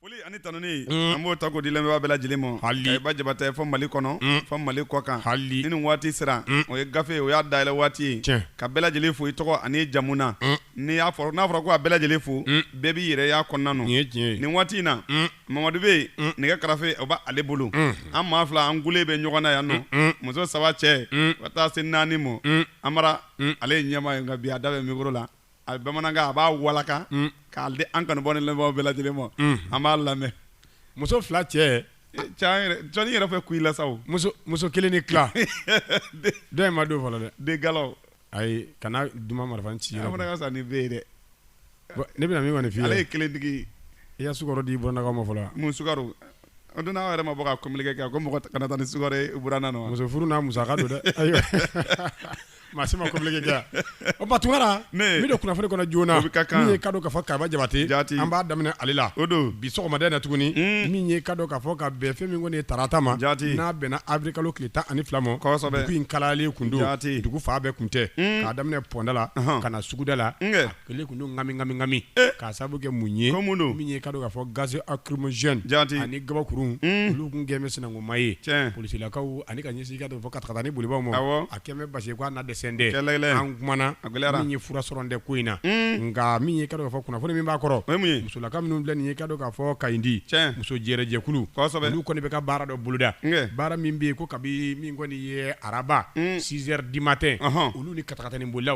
Foli ani tanuni an b'o ta k'o di lamɛnbaa bɛɛ lajɛlen ma Kariba Jabate fɔ mali kɔnɔ fɔ mali kɔkan ni nin waati sera o ye gafe o y'a dayɛlɛ waati ye ka bɛɛ lajɛlen fo i tɔgɔ ani jamu na ni y'a fɔ n'a fɔra ko a bɛɛ lajɛlen fo bɛɛ b'i yɛrɛ y'a kɔnɔna nin waati in na mamadu bɛ yen nɛgɛ karafe o b'ale bolo an maa fila an gulen bɛ ɲɔgɔn na yan nɔ muso saba cɛ ka taa se naani ma Amara ale ye ɲɛmaa ye nka bi a da bɛ micro la a bamanankan a b'a walaka mm. k'a di an kanubaa ni lamɛnbaaw bɛɛ lajɛlen ma mm. an b'a lamɛn muso fila cɛ Jɔnni yɛrɛ fɛ kuyi la sa o muso kelen ni tila dɔ in ma don fɔlɔ dɛ de galaw ayi kana duma marifa ci yɔrɔ fana ka sa ni bɛ ye dɛ ne bɛna min kɔni f'i ye ale ye kelentigi ye i ye sukaro di burannakaw ma fɔlɔ mun sukaro o don n'aw yɛrɛ ma bɔ ka communiqué kɛ ko mɔgɔ kana taa ni sukaro ye buranna nɔ muso furu n'a musaka don dɛ ayiwa Maa si ma communiqué kɛ yan. O tuma Tunkara, ne! n bɛ don kunnafoni kɔnɔ joona, o bɛ ka kan, min ye i ka dɔn k'a fɔ Kariba Jabate, Jati, an b'a daminɛ ale la, o don, bi sɔgɔmada in na tuguni, un, min ye i ka dɔn k'a fɔ ka bɛn fɛn min kɔni ye tarata ma, Jati, n'a bɛnna avril kalo tile tan ani fila ma, kosɛbɛ, dugu in kalayalen kun don, Jati, dugu fan bɛɛ kun tɛ, un, k'a daminɛ Pɔnda la, ɔnhɔn, ka na suguda la, n kɛ Kelen kun don ngami ngami ngami k'a sababu kɛ mun ye ko mun don min ye ka dɔn k'a fɔ gaz lacrymogène jaati ani gabakuru unn olu kun kɛn bɛ sinankunma ye tiɲɛ policelakaw ani ka ɲɛsin i ka dɔn fɔ katakatani bolibaaw ma awɔ a kɛnbɛ basi k'a na dɛsɛn tɛ kɛlɛ kɛlɛ an kumana a gɛlɛyara min ye fura sɔrɔn tɛ ko in na unn nka min ye i ka dɔn k'a fɔ kunnafoni min b'a kɔrɔ o ye mun ye musolaka minnu filɛ nin ye i ka dɔn k'a fɔ Kayindi tiɲɛ muso jɛrɛjɛkulu kɔsɛbɛ olu kɔni bɛ ka baara dɔ boloda ŋɛ baara min bɛ yen ko kabi min kɔni ye araba unn 6 heures du matin ɔnhɔn olu ni ka Takatani bolila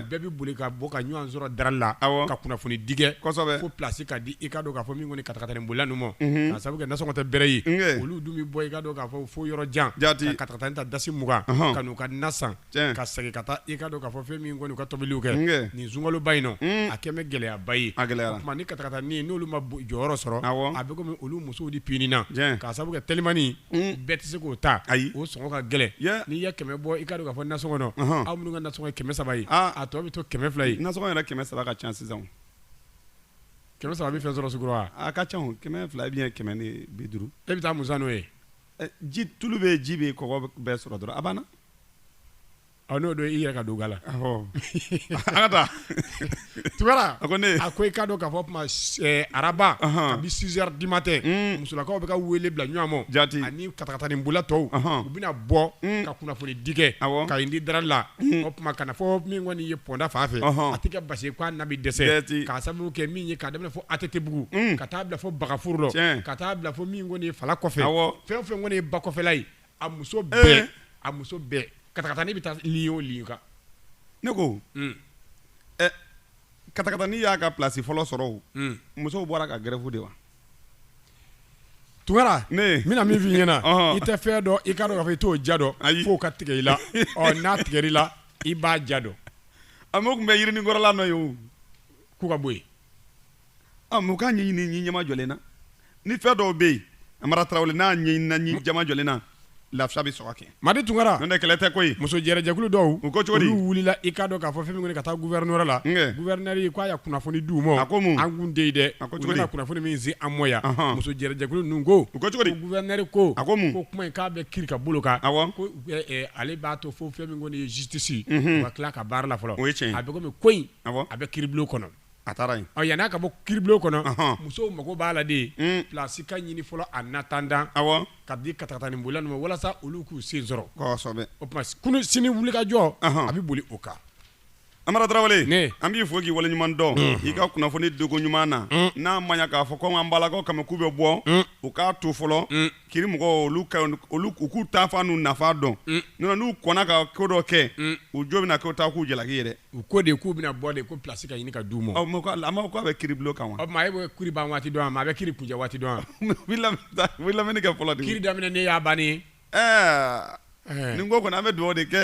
bɛɛ bɛ boli ka bɔ ka ɲɔgɔn sɔrɔ darali la ka kunnafoni di kɛ fo plasi ka di i ka dɔn k'a fɔ min kɔni katakatani bolila ninnu ma ka sabu kɛ nasɔngɔ tɛ bɛrɛ ye olu dun bɛ bɔ i ka dɔn k'a fɔ fo yɔrɔ jan ka katakatani ta dasi mugan ka n'u ka na san ka segin ka taa i ka dɔn k'a fɔ fɛn min kɔni u ka tobiliw kɛ nin sunkaloba in nɔ a kɛlen bɛ gɛlɛyaba ye o tuma ni katakatani n'olu ma jɔyɔrɔ sɔrɔ a bɛ komi olu musow de pinina ka sababu kɛ telimani bɛɛ tɛ se k'o ta ayi o sɔngɔ ka gɛlɛn n'i ye kɛmɛ bɔ i ka dɔn k'a fɔ nasɔngɔ nɔ aw minnu ka nasɔngɔ ye kɛmɛ saba ye a tɔ bɛ to kɛmɛ fila ye nasɔngɔ yɛrɛ kɛmɛ saba ka ca sisan kɛmɛ saba bɛ fɛn sɔrɔ sugu la a ka ca kɛmɛ fila ou bien kɛmɛ ni bi duuru e bɛ taa mun san n'o ye ji tulu bɛ ji bɛ kɔgɔ bɛɛ sɔrɔ dɔrɔn a banna N'o don i yɛrɛ ka don ga la an ka taa Tunkara a ko i ka dɔn k'a fɔ o tuma araba kabi 6 heures du matin musolakaw bɛ ka wele bila ɲɔgɔn ma jaati ani katakatani bolila tɔw u bɛna bɔ ka kunnafoni di kɛ Kayindi darali la o tuma ka na fɔ min kɔni ye pɔnda fan fɛ a tɛ ka basi k'a na bɛ dɛsɛ k'a sababu kɛ min ye k'a daminɛ fɔ ATT-bugu ka taa bila fɔ bagafuru la ka taa bila fɔ min kɔni ye Fala kɔfɛ fɛn fɛn kɔni ye ba kɔfɛla ye a muso bɛɛ a muso bɛɛ katakatanin bɛ taa ligne o ligne kan ne ko katakatanin y'a ka plasi fɔlɔ sɔrɔ o musow bɔra ka gɛrɛfu de wa tunkara ne bɛna min f' i ɲɛna i tɛ fɛn dɔn i k'a dɔn k'a fɔ i t'o ja dɔn ayi f'o ka tigɛ i la n'a tigɛra i la i b'a ja dɔn a tun bɛ yirinin kɔrɔla nɔ ye k'u ka bɔ yen a mais u k'a ɲɛɲini ɲɛmajɔlen na ni fɛn dɔw bɛ yen amara tarawele n'a ɲɛɲinina ɲɛmajɔlen na lafiya bɛ sɔrɔ kɛ madi tunkara n'o tɛ kɛlɛ tɛ koyi muso jɛrɛjɛkulu dɔw u ko cogo di olu wulila i k'a dɔn k'a fɔ fɛn min kɔni ka taa gouverneur la gouverneur k'a ya kunnafoni di u ma a ko mun an kun tɛ yen dɛ a ko cogo di u bɛna kunnafoni min se an ma yan muso jɛrɛjɛkulu ninnu ko u ko cogo di gouverneur ko a ko mun ko kuma in k'a bɛ kiri ka bolo kan awɔ ko ale b'a to fo fɛn min kɔni ye justice u ka tila ka baara la fɔlɔ o ye tiɲɛ ye a bɛ komi ko in awɔ a bɛ kiribulon kɔnɔ A taara yen ɔ yan'a ka bɔ kiribulon kɔnɔ, ɔhɔn, musow mago b'a la de, un, place ka ɲini fɔlɔ en attendant, awɔ, ka di katakataninbolila ninnu ma walasa olu k'u sen sɔrɔ, kosɛbɛ, o tuma kunun sini wulikajɔ, ɔhɔn, a bɛ boli o kan. Amara Tarawele, ne, an b'i fo k'i waleɲuman dɔn, unhun, i ka kunnafoni diko ɲuman na, un, n'a ma ɲɛ k'a fɔ ko an ka an balakaw kama k'u bɛ bɔ, un, u k'a to fɔlɔ, un kiri mɔgɔw olu ka olu u k'u taafan n'u nafan dɔn mm. nɔn n'u kɔnna ka ko dɔ kɛ mm. u jo bɛna k'u ta k'u jalaki yɛrɛ u ko de k'u bɛna bɔ de ko place ka ɲini ka d'u ma a ma k'a bɛ kiribulon kan wa o tuma e bɛ kiri ban waati dɔn a ma a bɛ kiri kuncɛ waati dɔn a u bɛ lamɛnni kɛ fɔlɔ de kiri daminɛ ne y'a banni ye ɛɛ eh. nin ko kɔni an bɛ dugawu de kɛ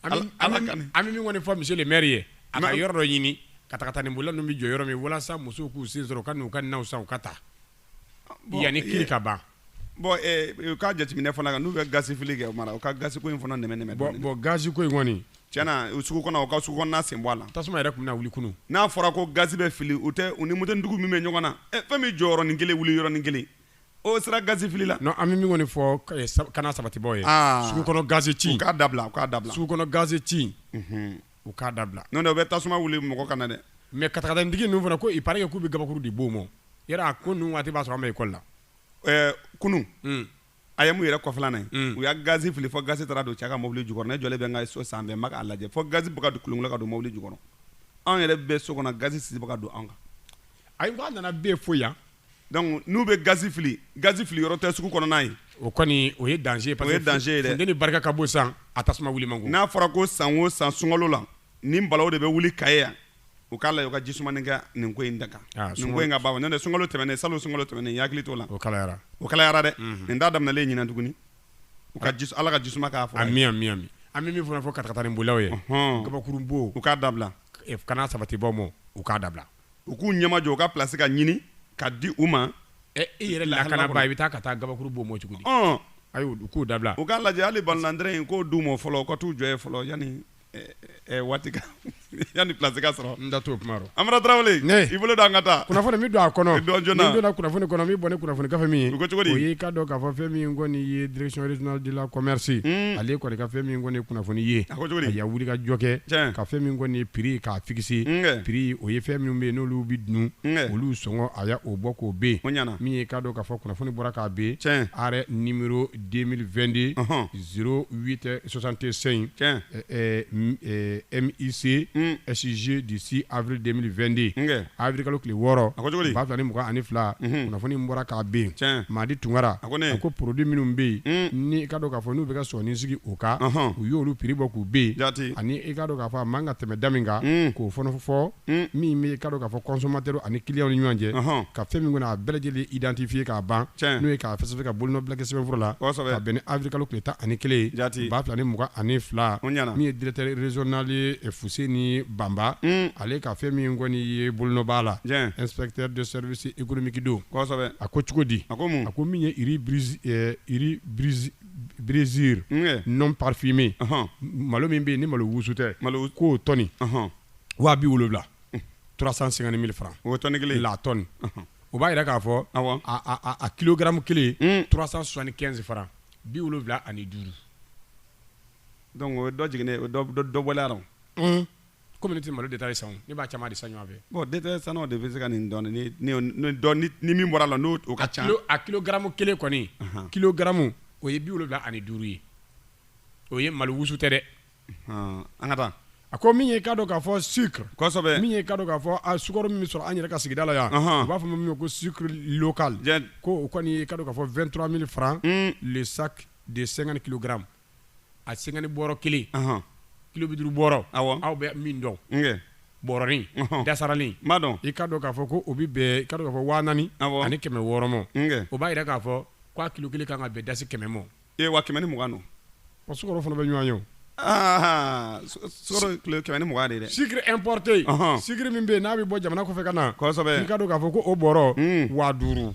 ala kani an bɛ min kɔni fɔ monsieur le maire ye a ka yɔrɔ dɔ ɲini katakatanin bolila ninnu bɛ jɔ yɔrɔ min walasa musow k'u sen sɔrɔ u ka n'u ka naw san u ka taa yanni kiri ka ban bon eh, u ka jateminɛ fana kan n'u bɛ gaz fili kɛ amara u ka gaz ko in fana nɛmɛ nɛmɛ bon bon gaz ko in kɔni tiɲɛ na u sugu kɔnɔ u ka sugu kɔnɔna sen bɔ a la tasuma yɛrɛ tun bɛna wuli kunu n'a fɔra ko gaz bɛ fili u tɛ u ni motonintigiw min bɛ ɲɔgɔn na eh, fɛn min jɔ yɔrɔnin kelen wuli yɔrɔnin kelen o sera gaz fili la non an bɛ min kɔni fɔ eh, sab- kana sabatibaaw ye Ah. sugu kɔnɔ gaz ci u k'a dabila u k'a dabila sugu kɔnɔ gaz ci u k'a dabila n'o tɛ u bɛ tasuma wuli mɔgɔ kan na dɛ mais katakatanintigi ninnu fana ko il paraît que k'u bɛ gabakuru de bon u ma o, yɛrɛ a ko ninnu waati b'a sɔrɔ an bɛ école la, ɛɛ kunun, un, AEM yɛrɛ kɔfɛla la yen, un, u y'a gaz fili fo gaz taara don cɛ ka mɔbili jukɔrɔ ne jɔlen bɛ n ka so sanfɛ n bɛ k'a lajɛ fo gaz bɛ ka kolonkolon ka don mɔbili jukɔrɔ anw yɛrɛ bɛ so kɔnɔ gaz sisi bɛ ka don an kan ayi n k'a nana bɛ yen fo yan Donc n'u bɛ gaz fili, gaz fili yɔrɔ tɛ sugu kɔnɔna ye. O kɔni o ye danger ye. O ye danger ye dɛ! Parce que funteni barika ka bon sisan, a tasuma wuli man go. N'a fɔra ko san o san sunkalo la, nin balawu de bɛ wuli Kayi yan, u k'a lajɛ u ka ji sumanin kɛ nin ko in da kan. Aa! Nin ko in ka ban quoi n'o tɛ sunkalo tɛmɛnen, salon sunkalo tɛmɛnen, n y'a hakili t'o la. O kalayara. O kalayara dɛ! Unhun. Nin t'a daminɛlen ye ɲinan tuguni. U ka ji, Ala ka ji suma k'a kɔrɔ yen. Ami, ami, ami. An bɛ min fana fɔ katakatanin bolilaw ye. Ɔnhɔn! Kabakurunbon. U k'a dabila. Kana sabatibaaw mɔ, u k'a dabila. u k'u ɲɛmajɔ u ka place ka ɲini ka di u ma ɛ i yɛrɛ lakana ba i bɛ taa ka taa gabakuru bɔ mɔ cogo di ɔn ayi u k'u dabila u k'a lajɛ hali balonandɛrɛ in k'o d'u ma fɔlɔ u ka t'u jɔ ye fɔlɔ yani waati ka yani place ka sɔrɔ n da t'o kuma rɔ Amara Tarawele ne i bolo don an ka taa kunnafoni min don a kɔnɔ dɔn joona n'i donna kunnafoni kɔnɔ min bɔ ni kunnafoni gafe min ye o ko cogo di o ye i ka dɔn k'a fɔ fɛn min kɔni ye direction régionale de la commerce ale kɔni ka fɛn min kɔni ye kunnafoni ye a ko cogo di a wuli ka jɔ kɛ tiɲɛ ka fɛn min kɔni ye prix k'a fisi pri o ye fɛn minnu bɛ yen n'olu bɛ dun olu sɔngɔ a y' o bɔ k'o bɛ yen min ye k'a dɔn k'a fɔ kunnafoni bɔra k'a bɛ yen ni den2de z tɛ sɔsante sɛyi misi ɛsize de se ari den2de abirika tile wɔɔrɔ a cogo b'a fila ni mɔgɔ ani fila kunnafoni bɔra k'a bɛ yen maa di tunkara a ko ko produit minnu bɛ yen n'i ka dɔn k'a fɔ n'u bɛ ka sɔɔni sigi u kan u y'olu prix bɔ k'u bɛn ani i ka dɔn k'a fɔ a man ka tɛmɛ da min kan k'o fɔfɔ min bɛ i ka dɔn k'a fɔ consommateur ani client ni ɲɔgɔn cɛ ka fɛn min kɔni a bɛɛ lajɛlen identifier k'a ban n'o ye k'a fɛsɛfɛsɛ ka bolonɔbila kɛ sɛbɛnfura la bɛn ni avril kalo tile tan ani kelen jaati ba fila ni mugan ani fila min ye directeur régional Fuseni Bamba ale ka fɛn min kɔni ye bolonɔ b'a la se ikmikidenw a ko cogo di a a ko min ye biereriz nɔn papifin malo min bɛ yen ni malo wusu tɛ malo ko tɔni waga bɛ wolo wolonwulalaurasan sen ni fara o tɔni kelen la tɔn o b'a yɛrɛ k'a fɔ a kikɛmu kelenturasan sonsanni kɛsin fara bi wolowula ani duuru dɔnku o dɔ jigininɛ dɔbɔla kɔmi ne tɛ malo détail san ne b'a caman de san ɲɔgɔn fɛ bon détail sannaw de bɛ se ka nin dɔn ni min bɔr'a la n'o o ka ca a kilogramme kelen kɔni kilogramme o ye bi wolowula ani duuru ye o ye malo wusu tɛ dɛ an ka taa a ko min ye ka dɔn k'a fɔ sucre min ye ka dɔn k'a fɔ a sukaro min bɛ sɔrɔ an yɛrɛ ka sigida la yan u b'a fɔ min ma ko sucre local ko o kɔni ka dɔn k'a fɔ vingt-trois mille francs le sac de cinquante kilogrammes a cinquante bɔrɔ kelen kilo bi duuru bɔrɔ aw bɛ min dɔn bɔrɔnin dasaralen ma dɔn i ka dɔn k'a fɔ ko o bɛ bɛn i ka dɔn k'a fɔ waa naani ani kɛmɛ wɔɔrɔ ma o b'a jira k'a fɔ k'o kilo kelen ka kan ka bɛn dasi kɛmɛ ma e wa kɛmɛ ni mugan don o sukaro fana bɛ ɲɔgɔn ye aa kɛmɛ ni mugan de dɛ sucre importé sucre min bɛ yen n'a bɛ bɔ jamana kɔfɛ ka na i ka dɔn k'a fɔ ko o bɔrɔ waa duuru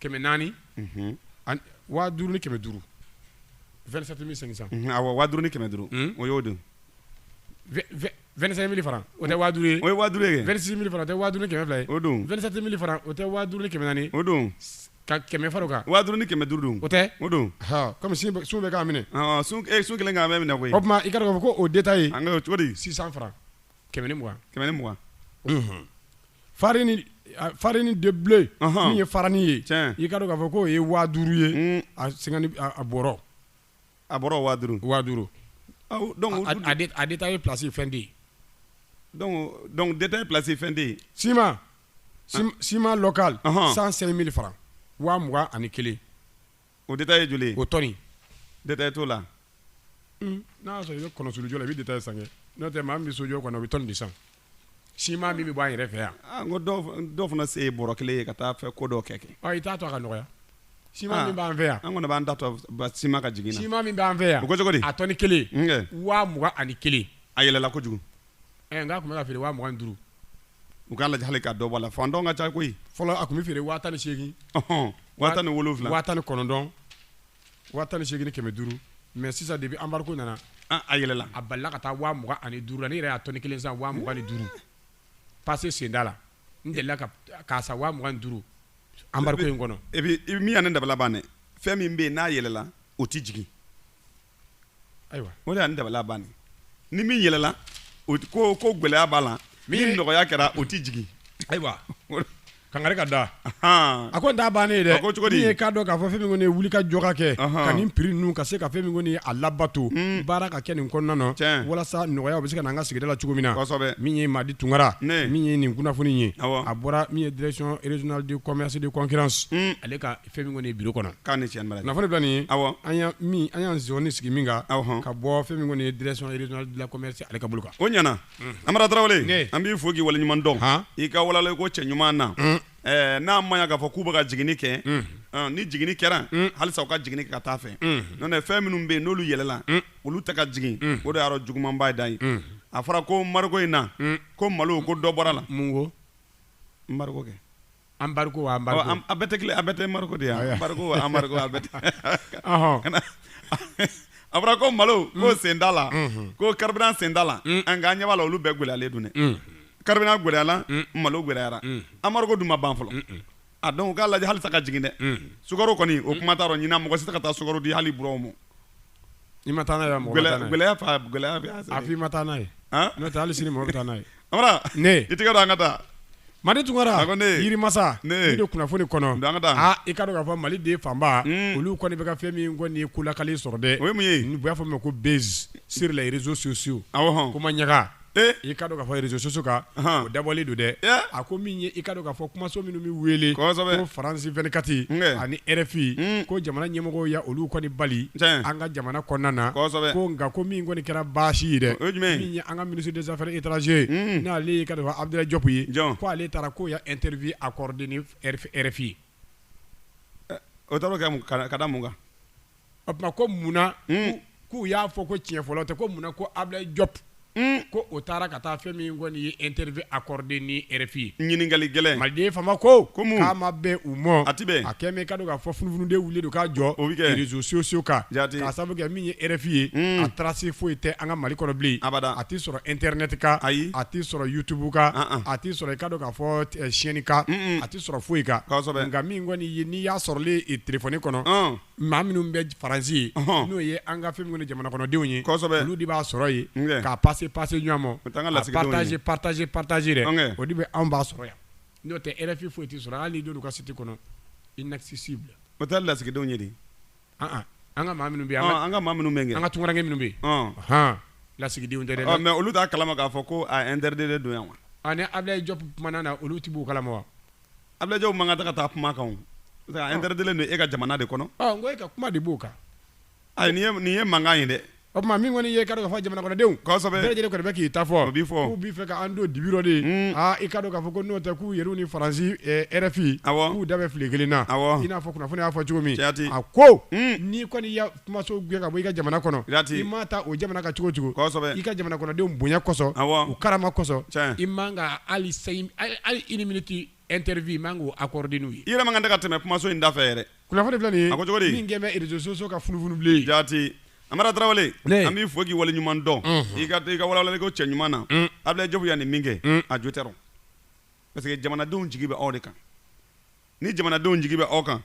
kɛmɛ naani waa duuru ni kɛmɛ duuru vingt-sept mille cinq cents waa duuru ni kɛmɛ duuru o y'o don vingt-cinq mille francs o tɛ waa duuru ye o ye waa duuru ye vingt-six mille francs o tɛ waa duuru ni kɛmɛ fila ye o don vingt-sept mille francs o tɛ waa duuru ni kɛmɛ naani o don ka kɛmɛ fara o kan waa duuru ni kɛmɛ duuru don o tɛ o don kɔmi sun bɛ k'a minɛ sun kelen k'a minɛ koyi o tuma i ka ko o détail an cogo six cents francs kɛmɛ ni mugan kɛmɛ ni mugan farini de bilen min ye fararin ye i ka k'a fɔ k'o ye wagadu ye a bɔ a bɔra wagadu wagadu de taa ye plasi fɛn de ye dɔnku plasi fɛn de ye sima sima lɔka san seli miri fara waugan ani kelen O détail ye joli ye o tɔni détail t'o la n'a sɔrɔ i bɛ kɔnɔsulu jɔ la i bɛ détail san kɛ n'o tɛ maa min bɛ sojɔ kɔnɔ o bɛ tɔni de san ciment min bɛ bɔ an yɛrɛ fɛ yan ah, ko dɔw fana se ye bɔrɔ kelen ye ka taa fɛ ko dɔ kɛ kɛ ah, i t'a to a ka nɔgɔya ciment min b'an fɛ yan an kɔni b'an da to ciment ka jigin na ciment min b'an fɛ yan o ko cogo di a tɔni kelen waa mugan ani kelen a yɛlɛla kojugu eh, n k'a tun bɛ ka feere waa mugan duuru u k'a lajɛ hali ka dɔ bɔ a la fantan ka ca koyi fɔlɔ a tun bɛ feere waa tan ni seegin waa tan ni wolonwula waa tan ni kɔnɔntɔn waa tan ni seegin kɛmɛ duuru mais sisan depuis embargo nana ah, a yɛlɛla a balila ka taa waa mugan ani duuru la ne yɛrɛ y'a tɔni kelen san waa mugan ni duuru passé senda la n delila k'a san waa mugan ni duuru embargo in kɔnɔ e min ye ne dabala ban dɛ fɛn min bɛ yen n'a yɛlɛla o tɛ jigin Ayiwa o de ye ne dabala ban, ni min yɛlɛla o tɛ ko ko gɛlɛya b'a la, min nɔgɔya kɛra o tɛ jigin, ayiwa kangari ka da, anhan, a ko nin t'a bannen ye dɛ, a ko cogo di, min ye i k'a dɔn k'a fɔ fɛn min kɔni ye wuli ka jɔ ka kɛ, ɔnhɔn, ka nin prix ninnu ka se ka fɛn min kɔni ye a labato, un, baara ka kɛ nin kɔnɔna na, tiɲɛ, walasa nɔgɔya bɛ se ka na an ka sigida la cogo min na, kosɛbɛ, min ye Madi Tunkara, ne, min ye nin kunnafoni in ye, awɔ, a bɔra min ye direction régionale du commerce et de concurrence un, ale ka fɛn min kɔni ye bureau kɔnɔ ka nin kunnafoni bila nin ye awɔ an y'an min an ye émission sigi min kan awɔ ka bɔ fɛn min kɔni ye direction régionale de la commerce ale ka bolo kan o ɲana Amara Tarawele ne an b'i fo k'i waleɲuman dɔn han i ka walali ko cɛ ɲuman na ɛɛ n'a ma ɲa k'a fɔ k'u bɛ ka jiginni kɛ ɔn ni jiginni kɛra halisa u ka jiginni kɛ ka taa fɛ n'o tɛ fɛn minnu bɛ yen n'olu yɛlɛla olu tɛ ka jigin o de y'a yɔrɔ jugumanba dan ye a fɔra ko embargo in na ko malo ko dɔ bɔra la mun ko kɛ an a bɛɛ tɛ kelen a bɛɛ tɛ embargo de ye embargo a bɛ a fɔra ko malo ko senda la ko carburant senda la an ka ɲɛ b'a la olu bɛɛ gɛlɛyalen don dɛ carburant gɛlɛyala malo gɛlɛyara embargo dun ma ban fɔlɔ a donc u k'a lajɛ halisa ka jigin dɛ sukaro kɔni o kuma t'a rɔ ɲinan mɔgɔ si tɛ ka taa sukaro di hali buranw ma I ma taa n'a ye wa? Mɔgɔ ma taa n'a ye. Gɛlɛya fa gɛlɛya bɛ yan. A fɔ i ma taa n'a ye. An! N'o tɛ hali sini mɔgɔ bɛ taa n'a ye. Amara! Ne! I tɛgɛ don an ka taa. Madi Tunkara! A ko ne! Yirimasa! Ne! N'i don kunnafoni kɔnɔ. Don an ka taa. Aa i ka dɔn k'a fɔ Mali den fanba. Uun! Olu kɔni bɛ ka fɛn min kɔni ye ko lakali sɔrɔ dɛ. O ye mun ye? Ni u b'a fɔ min ma ko buzz sur les réseaux sociaux. Awɔ hɔn! Ko maɲaga. i ka dɔn k'a fɔ réseaux sociaux kan o dabɔlen don dɛ a ko min ye i ka dɔn k'a fɔ kumaso minnu bɛ wele ko France 24 ani RFI ko jamana ɲɛmɔgɔw ye olu kɔni bali an ka jamana kɔnɔna na ko nka ko min kɔni kɛra baasi ye dɛ min ye an ka ministre des affaires étrangères ye n'ale ye i ka dɔn k'a fɔ Abudulayi Jɔpu ye ko ale taara k'o ye interview accordée ni RFI ye o taar'o kɛ ka da mun kan o tuma ko munna k'u y'a fɔ ko tiɲɛ fɔlɔ tɛ ko munna ko Abulaye Jɔpu ko o taara ka taa fɛn min kɔni ye interview accordée ni RFI ye ɲininkali gɛlɛn maliden fanba ko k'a ma bɛn u ma a a kɛ min ka dɔn k'a fɔ funufunu de wulilen don ka jɔ réseaux sociaux kan k'a sabu kɛ min ye RFI ye a trace foyi tɛ an ka mali kɔnɔ bilen a a tɛ sɔrɔ internet kan a tɛ sɔrɔ YouTube kan a tɛ sɔrɔ i ka dɔn k'a fɔ chaîne kan a tɛ sɔrɔ foyi kan nka min kɔni ye n'i y'a sɔrɔ i téléphone kɔnɔ maa minnu bɛ faransi ye n'o ye an ka fɛn min kɔni jamana kɔnɔdenw ye olu de b'a sɔrɔ yen k'a passer passer ɲɔgɔn ma partager partager dɛ o de bɛ anw b'a sɔrɔ yan n'o tɛ RFI foyi tɛ sɔrɔ hali n'i don u ka site kɔnɔ inaccessible o taa lasigidenw ye an ka maa minnu bɛ an ka maa minnu bɛ yen an ka tunkarankɛ minnu bɛ yen hɔn lasigidenw tɛ dɛ mais olu t'a kalama k'a fɔ ko a interdit de don yan wa ani Abulaye Jɔpu mana na olu tɛ bɔ o kalama wa Abulaye Jɔpu man ka taga ka taa kuma kan a interditlen don e ka jamana de kɔnɔ ko e ka kuma de b'o kan nin ye mankan ye dɛ o tuma min kɔni ye ka dɔn k'a fɔ jamana kɔnɔdenw bɛɛ lajɛlen kɔni bɛ k'i ta fɔ k'u b'i fɛ k'an don dibi rɔ de i ka dɔn k'a fɔ ko n'o tɛ k'u yɛrɛ ni faransi RFI k'u da bɛ file kelen na i n'a fɔ kunnafoni y'a fɔ cogo min a ko n'i kɔni kumaso gɛn ka bɔ i ka jamana kɔnɔ i ma taa o jamana kan cogo cogo i ka jamana kɔnɔdenw bonya kɔsɔn u karama kɔsɔn i man ka hali une minute interview i man k'o accorder n'u ye i yɛrɛ man kan ka tɛmɛ kumaso in da fɛ yɛrɛ kunnafoni filɛ nin ye a ko min kɛlen bɛ réseaux sociaux kan funufunu bilen jaati Amara Tarawele an b'i fo k'i waleɲuman dɔn i ka i ka walawalali ko cɛ ɲuman na Abulaye Jɔpu ye nin min kɛ a jo tɛ parce que jamanadenw jigi bɛ aw de kan ni jamanadenw jigi bɛ aw kan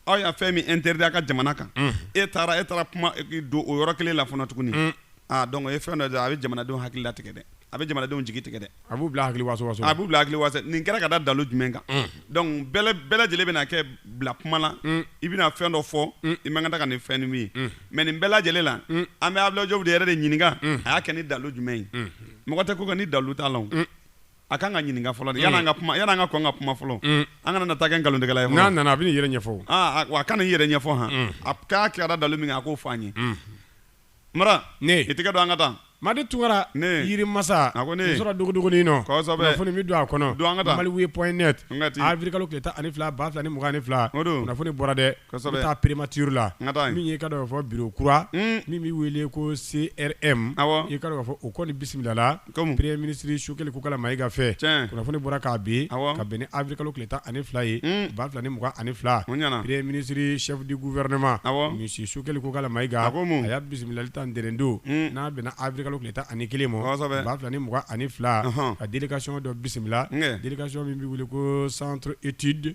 aw ye fɛn min interdit a ka jamana kan e taara e taara kuma don o yɔrɔ kelen la fana tuguni aa donc o ye fɛn dɔ de a bɛ jamanadenw hakili latigɛ dɛ a bɛ jamanadenw jigi tigɛ dɛ a b'u bila hakili waso waso a b'u bila hakili waso nin kɛra ka da dalu jumɛn kan donc bɛɛ lajɛlen bɛna k'i bila kuma la i bɛna fɛn dɔ fɔ i man kan tɛ ka nin fɛn ni min ye mais nin bɛɛ lajɛlen la an bɛ Abulaye Jɔpu de yɛrɛ de ɲininka a y'a kɛ ni dalu jumɛn ye mɔgɔ tɛ ko kɛ ni dalu t'a la o. A ka kan ka ɲininka fɔlɔ yanni an ka kuma yanni an ka kɔn ka kuma fɔlɔ an kana na taa kɛ nkalontigɛla ye n'a nana a b'a yɛrɛ ɲɛfɔ a ka n'a yɛrɛ ɲɛfɔ h a k'a kɛra dalu min a k'o fɔ an ye Amara i tɛgɛ don an ka taa Madi Tunkara yiri masa a ko ne sɔrɔ dugu kunnafoni min don a kɔnɔ maliweb point net awirili kalo tile tan ani fila ba fila ni mugan ni fila kunnafoni bɔra dɛ taa primature la min y'i ka dɔn k'a fɔ bureau kura min bɛ wele ko CRM i ka dɔn k'a fɔ o kɔni bisimilala comme premier ministre Sogɛli Kokala Mayiga fɛ, tiɲɛ, kunnafoni bɔra k'a bin, awɔ, ka bɛn ni avril kalo tile tan ani fila ye, un, ba fila ni mugan ani fila, o ɲɛna, premier ministre chef du gouvernement, awɔ, monsieur Sogɛli Kokala Mayiga, a ko mun? a y'a bisimilali ta ntɛnɛndon, un, n'a bɛnna avril kalo tile tan ani kelen ma, kosɛbɛ, ba fila ni mugan ani fila, ɔnhɔn, ka délégation dɔ bisimila, un, délégation min bɛ wele ko centre étude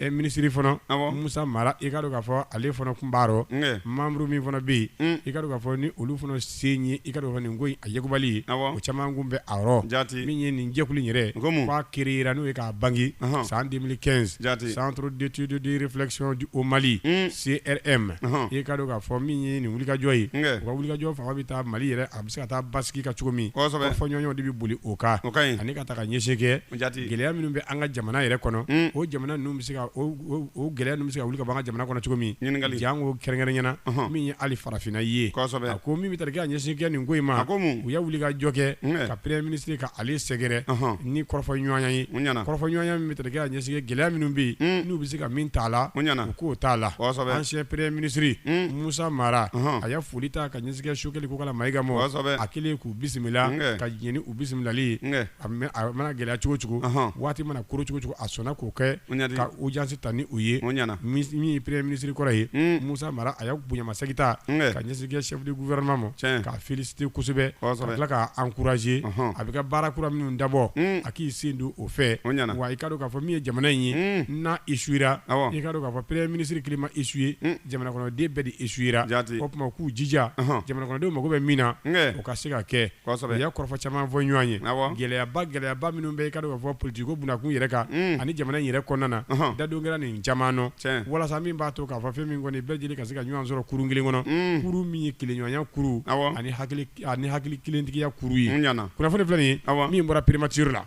ɛ minisiri fana Awɔ. Musa Mara i ka dɔn k'a fɔ ale fana kun b'a rɔ Nkɛ. membre min fana bɛ yen Mm. i ka dɔn k'a fɔ ni olu fana se ye i ka dɔn k'a fɔ nin ko in a yekubali ye Awɔ. o caman kun bɛ a rɔ Jaati. min ye nin jɛkulu in yɛrɛ N ko mun? k'a créera n'o ye k'a bange Ɔhɔn. san 2015 Jaati. centre d'étude de réflexion au Mali Mm. CRM Ɔhɔn. i ka dɔn k'a fɔ min ye nin wulikajɔ ye Nkɛ. u ka wulikajɔ fanba bɛ taa Mali yɛrɛ a bɛ se ka taa basigi ka cogo min Kosɛbɛ. fɔɲɔgɔnw de bɛ boli o kan O ka ɲi. ani ka taa ka ɲɛsin kɛ gɛlɛya minnu bɛ an ka jamana yɛrɛ kɔnɔ o jamana ninnu bɛ se ka o gɛlɛya ninnu bɛ se ka wuli ka bɔ an ka jamana kɔnɔ cogo min janko kɛrɛnkɛrɛnya na min ye ali farafinna ye a ko min bɛ tali kɛ ka ɲɛsin kɛ nin ko in ma u y'a wulikajɔ kɛ ka premier ministre ka ale sɛgɛrɛ ni kɔrɔfɔɲɔgɔnya ye kɔrɔfɔɲɔgɔnya min bɛ tali kɛ ka ɲɛsin kɛ gɛlɛya minnu bɛ yen n'u bɛ se ka min t'a la u k'o t'a la ancien premier ministre Musa Mara a y'a foli ta ka ɲɛsin kɛ Sogɛli Kokala Mayiga ma a kɛlen k'u bisimila ka jɛn ni u bisimilali a mana gɛlɛya cogo cogo waati mana koron cogo cogo a sɔnna k'o kɛ ka audience ta ni u ye min ye premier ministre kɔrɔ ye Musa Mara a y'a bonyamasegin ta ka ɲɛsin kɛ chef du gouvernement ma k'a féliciter kosɛbɛ ka tila k'a encourager a bɛ ka baara kura minnu dabɔ a k'i sen don o fɛ wa i ka dɔn k'a fɔ min ye jamana in ye n'a échouera i ka dɔn k'a fɔ premier ministre kelen ma échoué jamana kɔnɔden bɛɛ de échouera o tuma k'u jija jamana kɔnɔdenw mako bɛ min na u ka se ka kɛ Kɔrɔfɔ caman fɔ ɲɔgɔn ye gɛlɛyaba gɛlɛyaba minnu bɛ i ka dɔn k'a fɔ politique ko bunda kun yɛrɛ kan ani jamana yɛrɛ kɔnɔna na dadon kɛra nin caman na walasa min b'a to k'a fɔ fɛn min kɔni bɛɛ lajɛlen ka se ka ɲɔgɔn sɔrɔ kurun kelen kɔnɔ kurun min ye kelenɲɔgɔnya kurun ani hakili kelentigiya kurun ye kunnafoni filɛ nin ye min bɔra primature la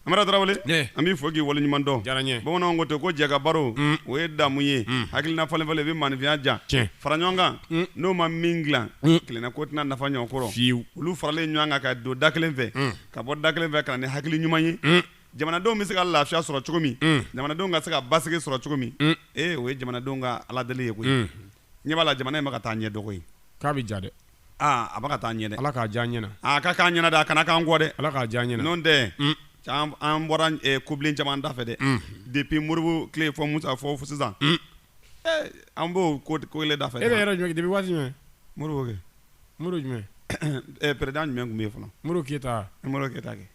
Amara Tarawele ne an b'i fo k'i waleɲuman dɔn diyara n ye bamananw ko ten ko jɛkabaro Mm. o ye damu ye Mm. hakilina falenfalen bɛ maanifinya diya Tiɲɛ. fara ɲɔgɔn kan Mm. n'o ma min dilan Mm. kelenna ko tɛna nafa ɲɔgɔn kɔrɔ fiyewu olu faralen ɲɔgɔn kan ka don da kelen fɛ Mm. ka bɔ da kelen fɛ ka na ni hakili ɲuman ye Mm. jamanadenw bɛ se ka lafiya sɔrɔ cogo min Mm. jamanadenw ka se ka basigi sɔrɔ cogo min Mm. ee o ye jamanadenw ka aladeli ye koyi Mm. Ɲɛ b'a la jamana in bɛ ka taa ɲɛ de koyi. K'a bɛ diya dɛ. Aa a bɛ ka taa ɲɛ dɛ. Ala k'a diya an ɲɛna. Aa a ka k'an ɲɛna dɛ, a kana k'an kɔ dɛ. Ala k'a diya an ɲɛna. N'o tɛ. Un! Can an bɔra ɛ kobilen caman da fɛ dɛ. Unhun! Depuis Moribo tile fɔ Musa fɔ sisan. Un! Ee an b'o ko ko kelen da fɛ. E bɛ yɔrɔ jumɛn depuis waati jumɛn? Moribo kɛ. Moribo jumɛn? Ɛɛ président jumɛn tun bɛ yen fɔlɔ? Moribo Keyita wa? E Moribo Keyita kɛ.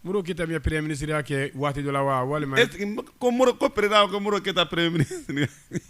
Moribo Keyita min ye premier ministre ya kɛ waati dɔ la wa? Walima. Est ce que ko Moribo ko président ko Moribo Keyita premier ministre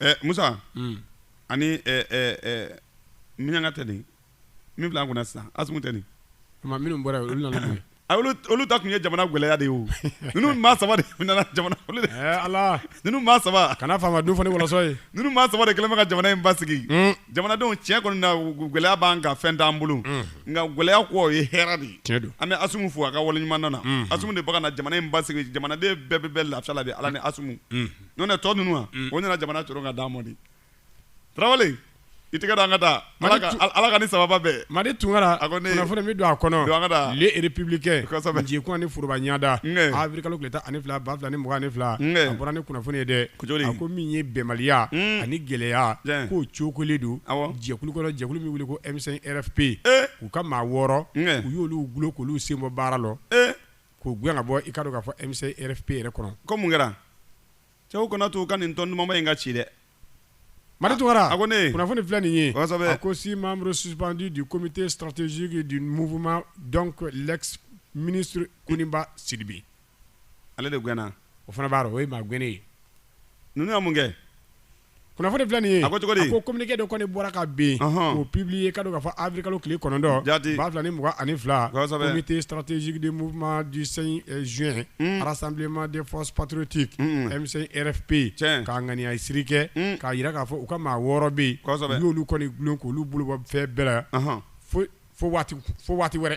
ɛ musa Mm. ani ɛ ɛ ɛ miɲanka tɛ nin min filɛ an kunna sisan asumu tɛ nin Tuma minnu bɔra yen, olu nana mun ye? a olu olu ta tun ye jamana gɛlɛya de ye o ninnu maa saba de nana jamana olu de Ɛɛ Ala, ninnu maa saba kana faama dun fɔ ni wɔlɔsɔ ye. ninnu maa saba de kɛlen bɛ ka jamana in basigi Mm. jamanadenw tiɲɛ kɔni na g- gɛlɛya b'an kan fɛn t'an bolo nka gɛlɛya kɔ o ye hɛrɛ de ye Tiɲɛ don. an bɛ asumu fo a ka waleɲuman na asumu de bɛ ka na jamana in basigi jamanaden bɛɛ bɛ bɛɛ lafiya la bi ala ni asumu n'o tɛ tɔ ninnu wa o nana jamana coron ka d'an ma de Tarawele i tɛgɛ don an ka taa Ala ka Ala ka ni sababa bɛn Madi Tunkara a ko ne kunnafoni min don a kɔnɔ don an ka taa le républicain kosɛbɛ jigikun ani foroba ɲanda avril kalo tile tan ani fila ba fila ni mugan ani fila a bɔra ni kunnafoni ye dɛ a ko min ye bɛnbaliya ani gɛlɛya k'o cokolen don jɛkulu kɔnɔ jɛkulu min wele ko M5 RFP u ka maa wɔɔrɔ u y'olu gulon k'olu senbɔ baara rɔ. k'u gɛn ka bɔ i ka dɔn k'a fɔ M5 RFP yɛrɛ kɔnɔ. Ko mun kɛra? Cɛw kana to u ka nin tɔn dumanba in ka ci dɛ! Madi Tunkara, a ko ne ye, kunnafoni filɛ nin ye, kosɛbɛ, a ko six membres suspendus du comité stratégique du mouvement donc l'ex ministre Koniba Sidibe ale de gɛnna, o fana b'a dɔn, o ye maa gɛnnen ye, ninnu ye mun kɛ? kunnafoni filɛ nin ye a ko cogo di a ko communiqué dɔ kɔni bɔra ka bin k'o publier k'a dɔn k'a fɔ avril kalo tile kɔnɔntɔn jaati ba fila ni mugan ani fila kosɛbɛ comité stratégique du mouvement du 5 juin rassemblement des forces patriotiques M5RFP tiɲɛ k'a ŋaniyasiri kɛ k'a yira k'a fɔ u ka maa wɔɔrɔ bɛ yen kosɛbɛ u y'olu kɔni gulon k'olu bolo bɔ fɛn bɛɛ la fo fo waati fo waati wɛrɛ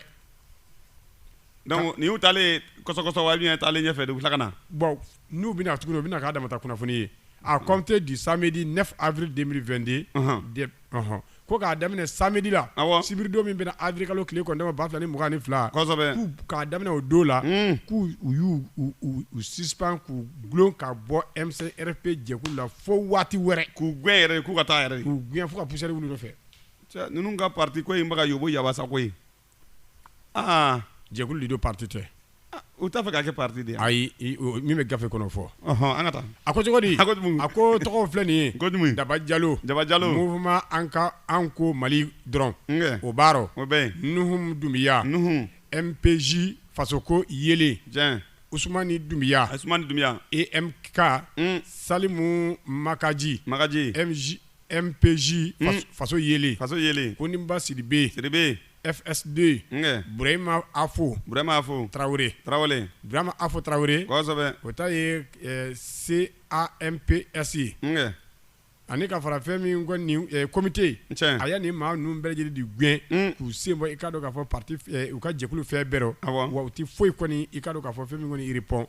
donc nin y'u taalen ye kɔsɔ-kɔsɔ wa ou bien taalen ɲɛfɛ de u bɛ tila ka na bon N'u bɛna tugun o bɛna k'a dama ta kunnafoni ye à compter du samedi 9 avril 2022 de ko k'a daminɛ samedi la sibiridon min bɛnna avril kalo tile kɔnɔntɔn ba fila ni mugan ni fila k'a daminɛ o don la k'u y'u suspend k'u gulon ka bɔ M5 RFP jɛkulu la fo waati wɛrɛ k'u gɛn yɛrɛ k'u ka taa yɛrɛ k'u gɛn fo ka poussière wuli u nɔ fɛ ninnu ka parti ko in bɛ ka yoboyaba sa koyi aa jɛkulu de don parti tɛ u t'a fɛ k'a kɛ parti de ye ayi i o min bɛ gafe kɔnɔ o fɔ ɔhɔn an ka taa a ko cogodi a ko jumɛn a ko u tɔgɔw filɛ nin ye ko jumɛn Daba Jalo Daba Jalo mouvement an ka an ko Mali dɔrɔn n kɛ o b'a rɔ o bɛ yen Nuhum Doumbia Nuhum MPJ fasoko yeelen tiɲɛ Usumani Doumbia Usumani Doumbia EMK un Salimu Makaji Makaji MJ MPJ faso yeelen faso yeelen Koniba Sidibe Sidibe FSD Burema Afo Burema Afo tarawele tarawele Burema Afo tarawele kosɛbɛ o ta ye CAMPS ye ani ka fara fɛn min kɔni comité a ye nin maa ninnu bɛɛ lajɛlen de gɛn k'u sen bɔ i ka dɔn k'a fɔ parti u ka jɛkulu fɛn bɛɛ rɔ wa u tɛ foyi kɔni i ka dɔn k'a fɔ fɛn min kɔni yirip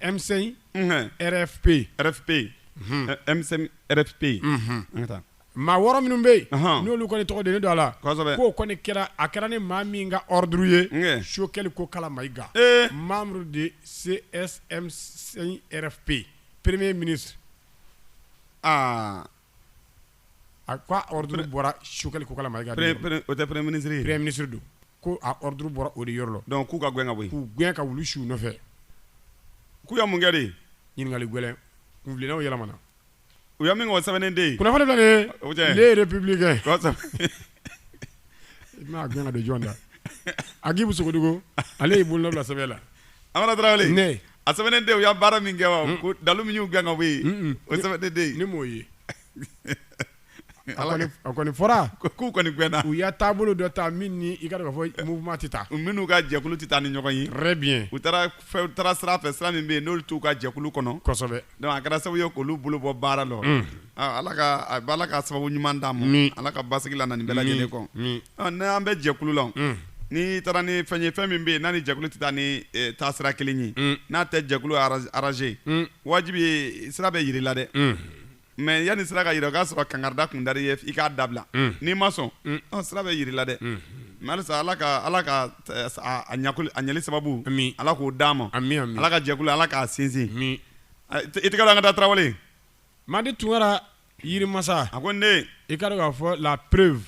emisɛn rfp rfp emisɛn rfp taa maa wɔɔrɔ minnu bɛ yen n'olu kɔni tɔgɔ don don a la k'o kɔni kɛra a kɛra ni maa min ka duru ye sokɛli ko kala mayi mamudu de se rfp perere mini aa A ko ordre bɔra Choguel Kokalla Maïga o tɛ premier ministre ye, premier ministre don, ko a ordre bɔra o de yɔrɔ la, donc k'u ka gɛn ka bɔ yen, k'u gɛn ka wulu su u nɔfɛ, k'u ye mun kɛ de? Ɲininkali gɛlɛn, kuntilennaw yɛlɛmana, u ye min kɛ o sɛbɛnnen tɛ yen, kunnafoni filɛ nin ye, o tɛ, les Républicains I bɛna gana don jɔn da Agibu Sogodogo ale y'i bolonɔ bila sɛbɛn la Amara Tarawele a sɛbɛnnen de u y'a baara min kɛ wa ko dalu min y'u gɛn ka bɔ yen o sɛbɛnnen de ne m'o ye a kɔni fɔra k'u kɔni gɛnna u y'a taabolo dɔ ta min ni i k'a dɔn k'a fɔ mouvement tɛ taa minnu ka jɛkulu tɛ taa ni ɲɔgɔn ye très bien u taara taara sira fɛ sira min bɛ yen n'olu t'u ka jɛkulu kɔnɔ kosɛbɛ donc a kɛra sababu ye k'olu bolo bɔ baara la ala ka sababu ɲuman d'a ma ala ka basigi lana nin bɛɛ lajɛlen kɔ n'an bɛ jɛkulu la n'i taara ni fɛn ye fɛn min bɛ yen n'a ni jɛkulu tɛ taa ni taasira kelen ye n'a tɛ jɛkulu arranger wajibi ye sira bɛ jir'i la dɛ mais yanni sira ka jira o k'a sɔrɔ kangarida kun dar'i ye i k'a dabila n'i ma sɔn sira bɛ jir'i la dɛ mais ala ka ala ka a ɲɛli sababu ala k'o d'a ma ala ka jɛkulu ala k'a sinsin i tɛ an ka taa tarawele madi tunkara yirimasa a ko ne i k'a dɔn k'a fɔ la preuve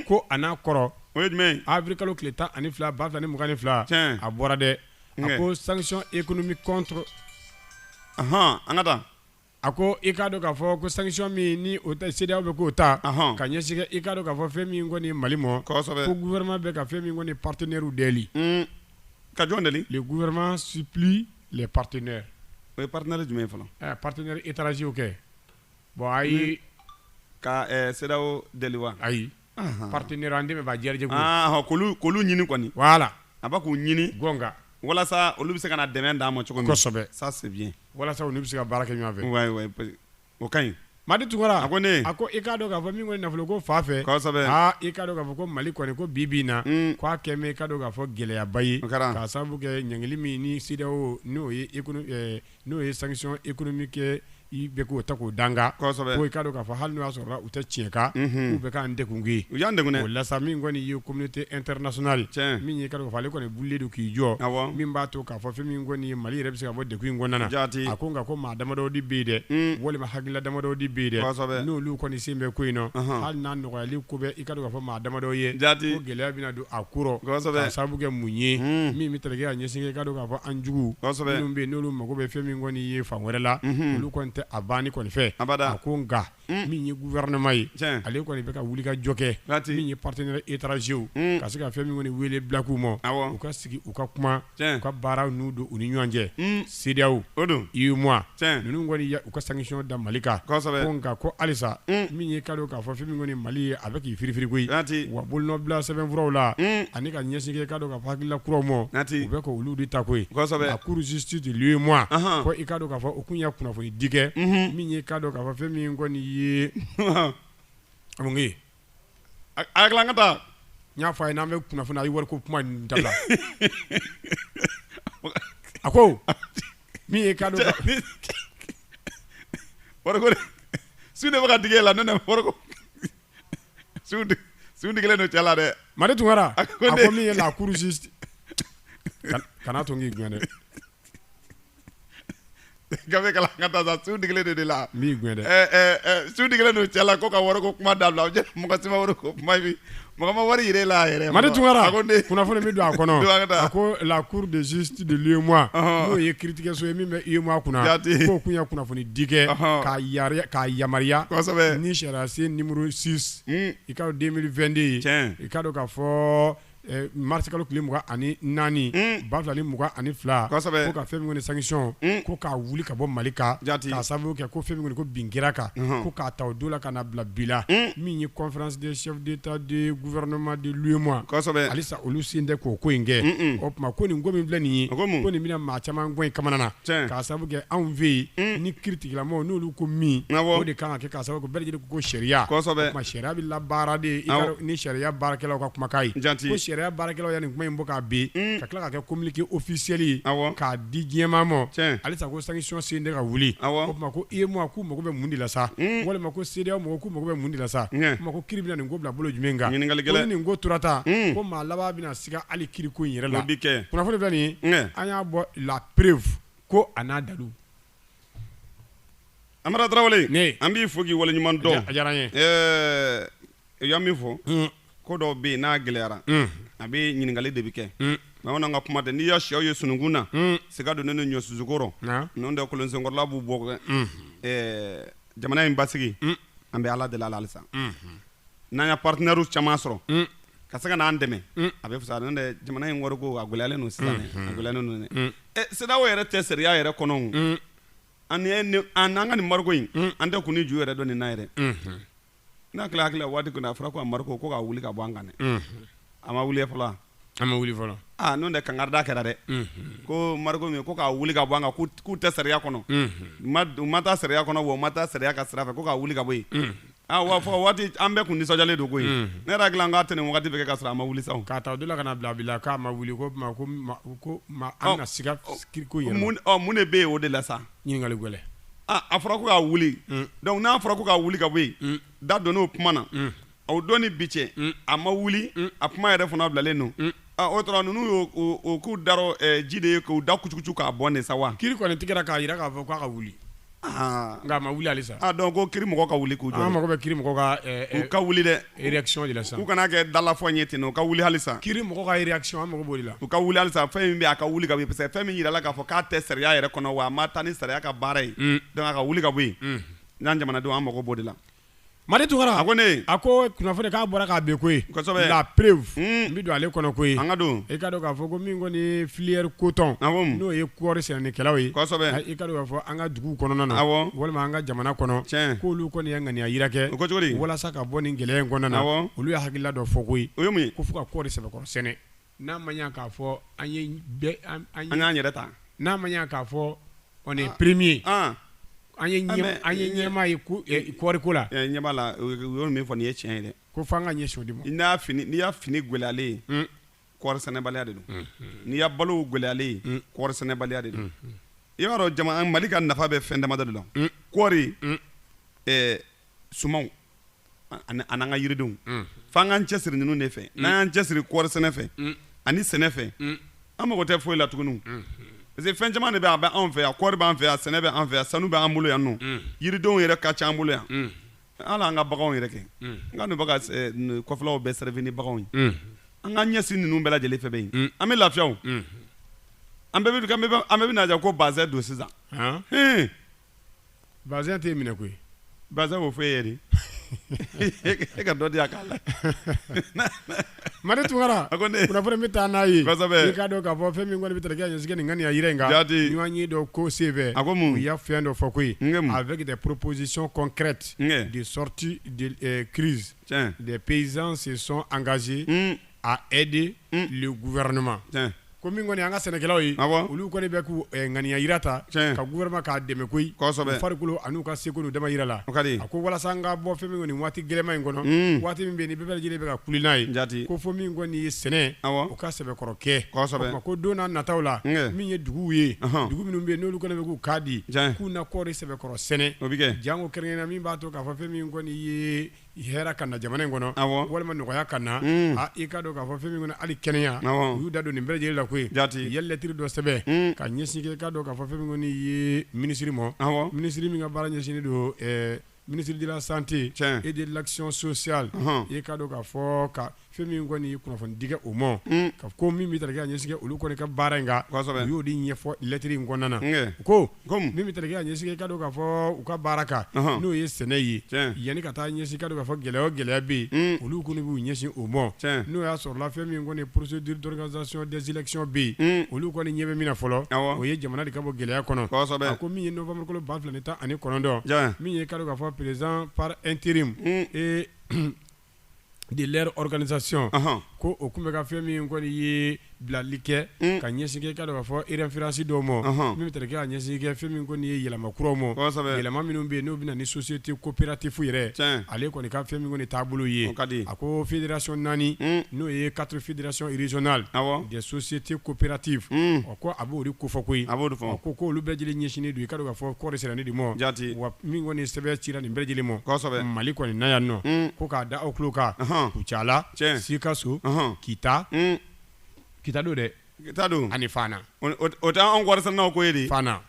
ko a n'a kɔrɔ o ye jumɛn avril kalo tile tan ani fila ba fila ni mugan ni fila a bɔra dɛ a ko sanction économique contre an ka taa A ko i k'a dɔn k'a fɔ ko sanction min ni o ta CEDEAO bɛ k'o ta, ɔnhɔn, ka ɲɛsin i k'a dɔn k'a fɔ fɛn min kɔni Mali ma, kosɛbɛ, ko gouvernement bɛ ka fɛn min kɔni partenaires deli, un, ka jɔn deli? Le gouvernement supplie les partenaires o ye partenaires jumɛn ye fɔlɔ? Ɛ partenaires étrangers kɛ, bon ayi, ka CEDEAO deli wa? Ayi. partenaire an dɛmɛbaa jɛkulu k'olu ɲini kɔni voilà a bɛ k'u ɲini gka walasa olu bɛ se ka na dɛmɛ d'a ma cogo kosɛbɛ sa walasa olu bɛ se ka baara kɛ ɲɔgɔnfɛ o ka ɲi madi tunkara a ko ne a ko i k'a dɔn k'a fɔ min kɔni nafolo ko fan fɛ i k'a dɔn k'a fɔ ko mali kɔni ko bi bɛ na k'a kɛ i k'a dɔn k'a fɔ gɛlɛyaba ye k'a sababu kɛ ɲangili min ni CEDEAO n'o ye N'o ye sanction économique ye i bɛ k'o ta k'o d'an kan, kosɛbɛ, ko i k'a dɔn k'a fɔ hali n'o y'a sɔrɔ u tɛ tiɲɛ kan, unhun, k'u bɛ k'an degun, u y'an degun dɛ, o la sa min kɔni ye communauté internationale tiɲɛ, min ye i k'a dɔn k'a fɔ ale kɔni wulilen don k'i jɔ, awɔ, min b'a to k'a fɔ fɛn min kɔni ye Mali yɛrɛ bɛ se ka bɔ degun in kɔnɔna na, jaati, a ko nka ko maa damadɔ de bɛ yen dɛ, un, walima hakilila damadɔ de bɛ yen dɛ, kosɛbɛ, n'olu kɔni sen bɛ ko in na, ɔnhɔn, hali n'a nɔgɔyali ko bɛ i ka dɔn k'a fɔ maa damadɔ ye, jaati, ko gɛlɛya bɛna don a kɔrɔ k'a sababu kɛ mun ye min bɛ tali kɛ a ɲɛsin k'a dɔn k'a fɔ an jugu minnu bɛ yen n'olu mago bɛ fɛn min kɔni ye fan wɛrɛ la olu kɔni tɛ a banni kɔni fɛ a ko nka min ye gouvernement ye ale kɔni bɛ ka wuli ka jɔ kɛ min ye partenaires étrangers ka se ka fɛn min kɔni weele bila u ma u ka sigi u ka kuma u ka baaraw n'u don u ni ɲɔgɔn cɛ CEDEAO UEMOA ninnu kɔni y'u ka sanction da mali kan nka ko halisa min ye k'a dɔn k'a fɔ fɛn min kɔni mali ye a bɛ k'i firifiri koyi wa bolonɔbila sɛbɛnfuraw la ani ka ɲɛsin kɛ i k'a dɔn k'a fɔ hakilila kuraw ma u bɛ ka olu de ta koyi la cour justice de l'UEMOA ko i k'a dɔn k'a fɔ o kun ye kunnafoni di kɛ min ye k'a dɔn k'a fɔ fɛn min kɔni ye A kalan ka taa n y'a fɔ a ye n'an bɛ kunnafoni na a ye wariko kuma dabila a ko min ye k'a dɔn wariko su de bɛ ka digi la ne wariko su digilen don cɛ la dɛ Madi Tunkara a ko min ye la cour justice kana to n k'i gɛn dɛ gafe kalan ka taa sa su digilen de la n b'i gɛn dɛ ɛɛ ɛɛ ɛɛ, su digilen don cɛ la ko ka wariko kuma dabila o jɛ mɔgɔ si ma wariko kuma bi mɔgɔ ma wari yɛrɛ la a yɛrɛ Madi Tunkara a ko ne kunnafoni min don a kɔnɔ Don a ka taa. a ko la cour de justice de l'UEMOA Ɔhɔn. n'o ye kiiritigɛso ye min bɛ UEMOA kunna Jaati. k'o kun ye kunnafoni di kɛ Ɔhɔn. k'a yari- k'a yamaruya Kosɛbɛ. ni sariyasen nimoro 6 Hmm. i k'a dɔn 2022 ye Tiɲɛ. i k'a dɔn k'a fɔ marisikalo tile mugan ani naani ba fila ni mugan ani fila ko ka fɛn min sanction ko k'a wuli ka bɔ mali kan k'a sababu kɛ ko fɛn ko bɛn kɛra a kan ko k'a ta o don la ka na bila bi la min ye conférence des chefs d'État de gouvernement de l'UEMOA halisa olu sen tɛ k'o ko in kɛ o tuma ko nin ko min filɛ nin ye ko nin bɛna maa caman kɔni kamanagan k'a sababu kɛ anw fɛ yen ni kiiritigɛlaw n'olu ko min o de ka kan ka kɛ k'a sababu kɛ bɛɛ lajɛlen ko sariya Sariya bɛ labaara de, awɔ, ni sariya baarakɛlaw ka kumakan ye, jaati, ko sariya baarakɛlaw ye nin kuma in bɔ k'a bɛn, un, ka tila ka kɛ communiqué officiel ye, awɔ, k'a di diɲɛ maa ma, tiɲɛ, halisa ko sanction sen tɛ ka wuli, awɔ, o tuma ko UEMOA k'u mago bɛ mun de la sa, un, walima ko CEDEAO mɔgɔw k'u mago bɛ mun de la sa, ɲɛ, o tuma ko kiiri bɛna nin ko bila bolo jumɛn kan, ɲininkali gɛlɛn, ko ni nin ko tora tan, un, ko maa laban bɛna siga hali kiiriko in yɛrɛ la, o bɛ kɛ, kunnafoni filɛ nin ye, ɲɛ, an y'a bɔ la preuve ko a n'a dalu Amara Tarawele, ne, an b'i fo k'i waleɲuman dɔn, a diyara n ye, ɛɛ i ye min fɔ, un, ko dɔw bɛ yen n'a gɛlɛyara, un, a bɛ ɲininkali de bɛ kɛ, un, bamananw ka kuma tɛ n'i y'a siyɛw ye sununkun na, un, siga donnen don ɲɔsusu kɔrɔ, naamu, n'o tɛ kolonsenkɔrɔla b'u bɔ dɛ, unhun, ɛɛ jamana in basigi, un, an bɛ Ala deli a la halisa, unhun, n'an ye partenaires caman sɔrɔ, un ka se ka n'an dɛmɛ mm. a bɛ fisaya n'o tɛ jamana in wariko a gɛlɛyalen don sisan mm-hmm. a gɛlɛyalen don dɛ mm. eh, CEDEAO yɛrɛ tɛ sariya yɛrɛ kɔnɔ mm. ani an n'an ka nin embargo in an tɛ kun ni ju yɛrɛ dɔn nin na yɛrɛ mm-hmm. n'a tila hakili la waati kɔnɔ a fɔra ko embargo ko k'a wuli ka bɔ an kan dɛ mm-hmm. a ma wuli fɔlɔ a ma wuli fɔlɔ aa ah, n'o tɛ kankarida kɛra dɛ ko embargo min ko k'a wuli ka bɔ an kan k'u tɛ sariya kɔnɔ u ma taa sariya kɔnɔ wa u ma taa sariya ka sira fɛ ko k'a wuli ka bɔ yen Ah, wa fɔ waati an bɛɛ kun nisɔndiyalen don koyi ne yɛrɛ hakili la n k'a tɛ nin wagati bɛɛ kɛ ka sɔrɔ a ma wuli sa o k'a ta o de la ka na bila bi la k'a ma wuli ko ma ko ma ko ma an ka siga kiriko yɛrɛ mun ɔ mun de bɛ yen o de la sa ɲininkali gɛlɛn ah a fɔra ko k'a wuli donc n'a fɔra ko k'a wuli ka bɔ yen da donn'o kuma na o don ni bi cɛ a ma wuli a kuma yɛrɛ fana bilalen don O tora ninnu y'o k'u darɔ ji de ye k'u da kucukucu k'a bɔ nin sa wa kiiri kɔni tigɛra k'a jira k'a fɔ k'a ka wuli nka a ma wuli halisa donc ko kiiri mɔgɔ ka wuli k'u jɔ an mako bɛ kiiri mɔgɔ ka u ka wuli dɛ réaction de la sa u kana kɛ dalafɔ ɲɛ ten u ka wuli halisa kiiri mɔgɔ ka réaction an mako b'o de la u ka wuli halisa fɛn min bɛ a ka wuli ka bɔ yen parce que fɛn min jirala k'a fɔ k'a tɛ sariya yɛrɛ kɔnɔ wa a ma taa ni sariya ka baara ye donc a ka wuli ka bɔ yen an jamanadenw an mako b'o de la Madi Tunkara a ko ne a ko kunnafoni k'a bɔra k'a bɛ koyi la preuve n bɛ don ale kɔnɔ koyi an ka don i k'a dɔn k'a fɔ ko min kɔni ye filière coton n'o ye kɔɔri sɛnɛnikɛlaw ye i k'a dɔn k'a fɔ an ka dugu kɔnɔna na walima an ka jamana kɔnɔ k'olu kɔni ye ŋaniya jira kɛ walasa ka bɔ nin gɛlɛya in kɔnɔna na olu ye hakilila dɔ fɔ koyi o ye ko fo ka kɔɔri sɛbɛkɔrɔ sɛnɛ N'a ma ɲɛ k'a fɔ an ye bɛɛ an an ye an k'an yɛrɛ ta n'a ma ɲɛ k'a fɔ on est premier an an ye ɲɛma- an ye ɲɛmaa ye ko ɛ, kɔɔriko la ɛ, ɲɛ b'a la o ye- u y'o min fɔ nin ye tiɲɛ ye dɛ ko f'an ka ɲɛsin o de ma n'i y'a fini n'i y'a fini gɛlɛyalen ye kɔɔri sɛnɛbaliya de don n'i y'a balow gɛlɛyalen ye kɔɔri sɛnɛbaliya de don i b'a dɔn jama Mali ka nafa bɛ fɛn damadɔ de la kɔɔri ɛ, sumanw ani an'an ka yiridenw mm. f'an k'an cɛsiri ninnu de fɛ mm. n'an y'an cɛsiri kɔɔri sɛnɛ fɛ mm. ani sɛnɛ fɛ an mago tɛ foyi la tuguni parce que fɛn caman de bɛ a bɛ anw fɛ yan kɔɔri b'an fɛ yan sɛnɛ bɛ an fɛ yan sanu bɛ an bolo yan nɔ yiridenw yɛrɛ ka ca an bolo yan hali an ka baganw yɛrɛ kɛ n ka ninnu ka eh, kɔfɛlaw bɛɛ servi ni baganw ye an ka ɲɛsin ninnu bɛɛ lajɛlen fɛ bɛ yen an bɛ lafiya o an bɛɛ bɛ an bɛɛ bɛna jɛ ka bazɛn don sisan Bazɛn tɛ minɛ koyi bazɛn o fɔ e yɛrɛ e ka dɔ di k'a la Madi Tunkara kunnafoni bɛ taa n'a ye i k'a dɔn k'a fɔ fɛn min kɔni bɛ taa kɛ ɲɛsigi nin ŋaniya jira in kan jate ɲɔgɔnye dɔ ko senfɛ u y'a fɛn dɔ fɔ koyi avec des propositions concrètes de sortie de crise les paysans se sont engagés à aider le gouvernement ko min kɔni an ka sɛnɛkɛlaw ye olu kɔni bɛ k'u ŋaniya jira ta ka gouvernement k'a dɛmɛ koyi farikolo ani u ka seko n'u dama jira la a ko walasa an ka bɔ fɛn min kɔni waati gɛlɛnman in kɔnɔ waati min bɛ yen bɛɛ lajɛlen bɛ ka kule n'a ye ja ko fo min kɔni ye sɛnɛ o ka sɛbɛkɔrɔ kɛ ko don nataw la min ye duguw ye dugu minnu bɛ yen n'olu kɔni bɛ k'u kan di k'u na kɔɔri sɛbɛkɔrɔ sɛnɛ o bɛ kɛ janko kɛrɛn na min b'a to k'a fɔ fɛn min kɔni ye Hɛrɛ ka na jamana in kɔnɔ walima nɔgɔya ka na i k'a dɔn k'a fɔ fɛn min kɔni hali kɛnɛya y'u da don nin bɛɛ lajɛlen la koyi jate u ye lɛtiri dɔ sɛbɛn ka ɲɛsin kɛ i k'a dɔn k'a fɔ fɛn min kɔni ye minisiri ma minisiri min ka baara ɲɛsinnen don ministre de la santé et de l'action sociale i k'a dɔn k'a fɔ ka Fɛn min kɔni kunnafoni di o ma ka ko min bɛ tali kɛ ka ɲɛsin kɛ olu kɔni ka baara in y'o de ɲɛfɔ lɛtiri in kɔnɔna na ko min bɛ tali kɛ ka ɲɛsin kɛ k'a dɔn k'a fɔ u ka baara kan n'o ye sɛnɛ ye yanni ka taa ɲɛsin kɛ k'a dɔn k'a fɔ gɛlɛya o gɛlɛya bɛ yen olu kɔni b'u ɲɛsin o ma n'o y'a sɔrɔ la fɛn min kɔni procédure d'organisation des élections bɛ yen olu kɔni ɲɛ bɛ min na fɔlɔ o ye jamana de ka bɔ gɛlɛya kɔnɔ ko min ye novembre kalo ba fila tan ani kɔnɔntɔn min ye k'a dɔn k'a fɔ président par intérim de leur organisation ɔnhɔn, ko o tun bɛ ka fɛn min kɔni ye bilali kɛ un, ka ɲɛsin kɛ i k'a dɔn k'a fɔ référence dɔw ma, ɔnhɔn, min bɛ tali kɛ ka ɲɛsin kɛ fɛn min kɔni ye yɛlɛma kuraw ma, kosɛbɛ, yɛlɛma minnu bɛ yen n'o bɛ na ni société coopérative yɛrɛ, tiɲɛ, ale kɔni ka fɛn min kɔni taabolo ye, o ka di, a ko fédération 4 un, n'o ye quatre fédérations régionales, awɔ, des sociétés coopératives un ko a b'o de kofɔ koyi ko olu bɛɛ lajɛlen ɲɛsinnen don i k'a dɔn k'a fɔ kɔɔri sɛnɛni de ma ja wa min kɔni sɛbɛn cira nin bɛɛ lajɛlen ma Mali kɔni na yan nɔ ko k'a da aw tulo kan Kucala Sikaso Kita Kita don dɛ Kita don ani Fana o tɛ an kɔɔri sɛnɛnaw ko ye de Fana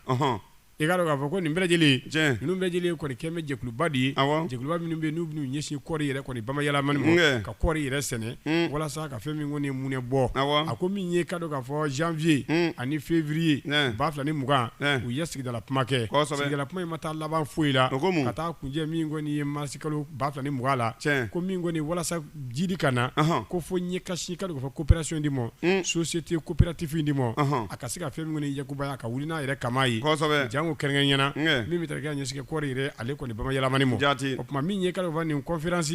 i k'a dɔn k'a fɔ ko nin bɛɛ lajɛlen tiɲɛ ninnu bɛɛ lajɛlen kɔni kɛlen bɛ jɛkuluba de ye awɔ jɛkuluba minnu bɛ yen n'u bɛn'u ɲɛsin kɔɔri yɛrɛ kɔni bamayɛlɛmani ma nkɛ ka kɔɔri yɛrɛ sɛnɛ un walasa ka fɛn min kɔni munɛ bɔ awɔ a ko min ye i k'a dɔn k'a fɔ janvier un ani février un ba fila ni mugan un u ye sigidala kuma kɛ kosɛbɛ sigidala kuma in ma taa laban foyi la o ko mun ka taa kunjɛ min kɔni ye mars kalo ba fila ni mugan la tiɲɛ ko min kɔni walasa jiidi ka na ko fo ɲɛ ka sin kɛ k'a dɔn k'a fɔ coopération de ma société coopérative in de ma a ka se ka fɛn min kɔni yakubaya a ka wuli n'a yɛrɛ kaman ye janko kɛrɛnkɛrɛnnenya la min bɛ tali kɛ ka ɲɛsin kɛ kɔɔri yɛrɛ ale kɔni bamayɛlɛmani ma jate o tuma min ye k'a dɔn k'a fɔ nin conférence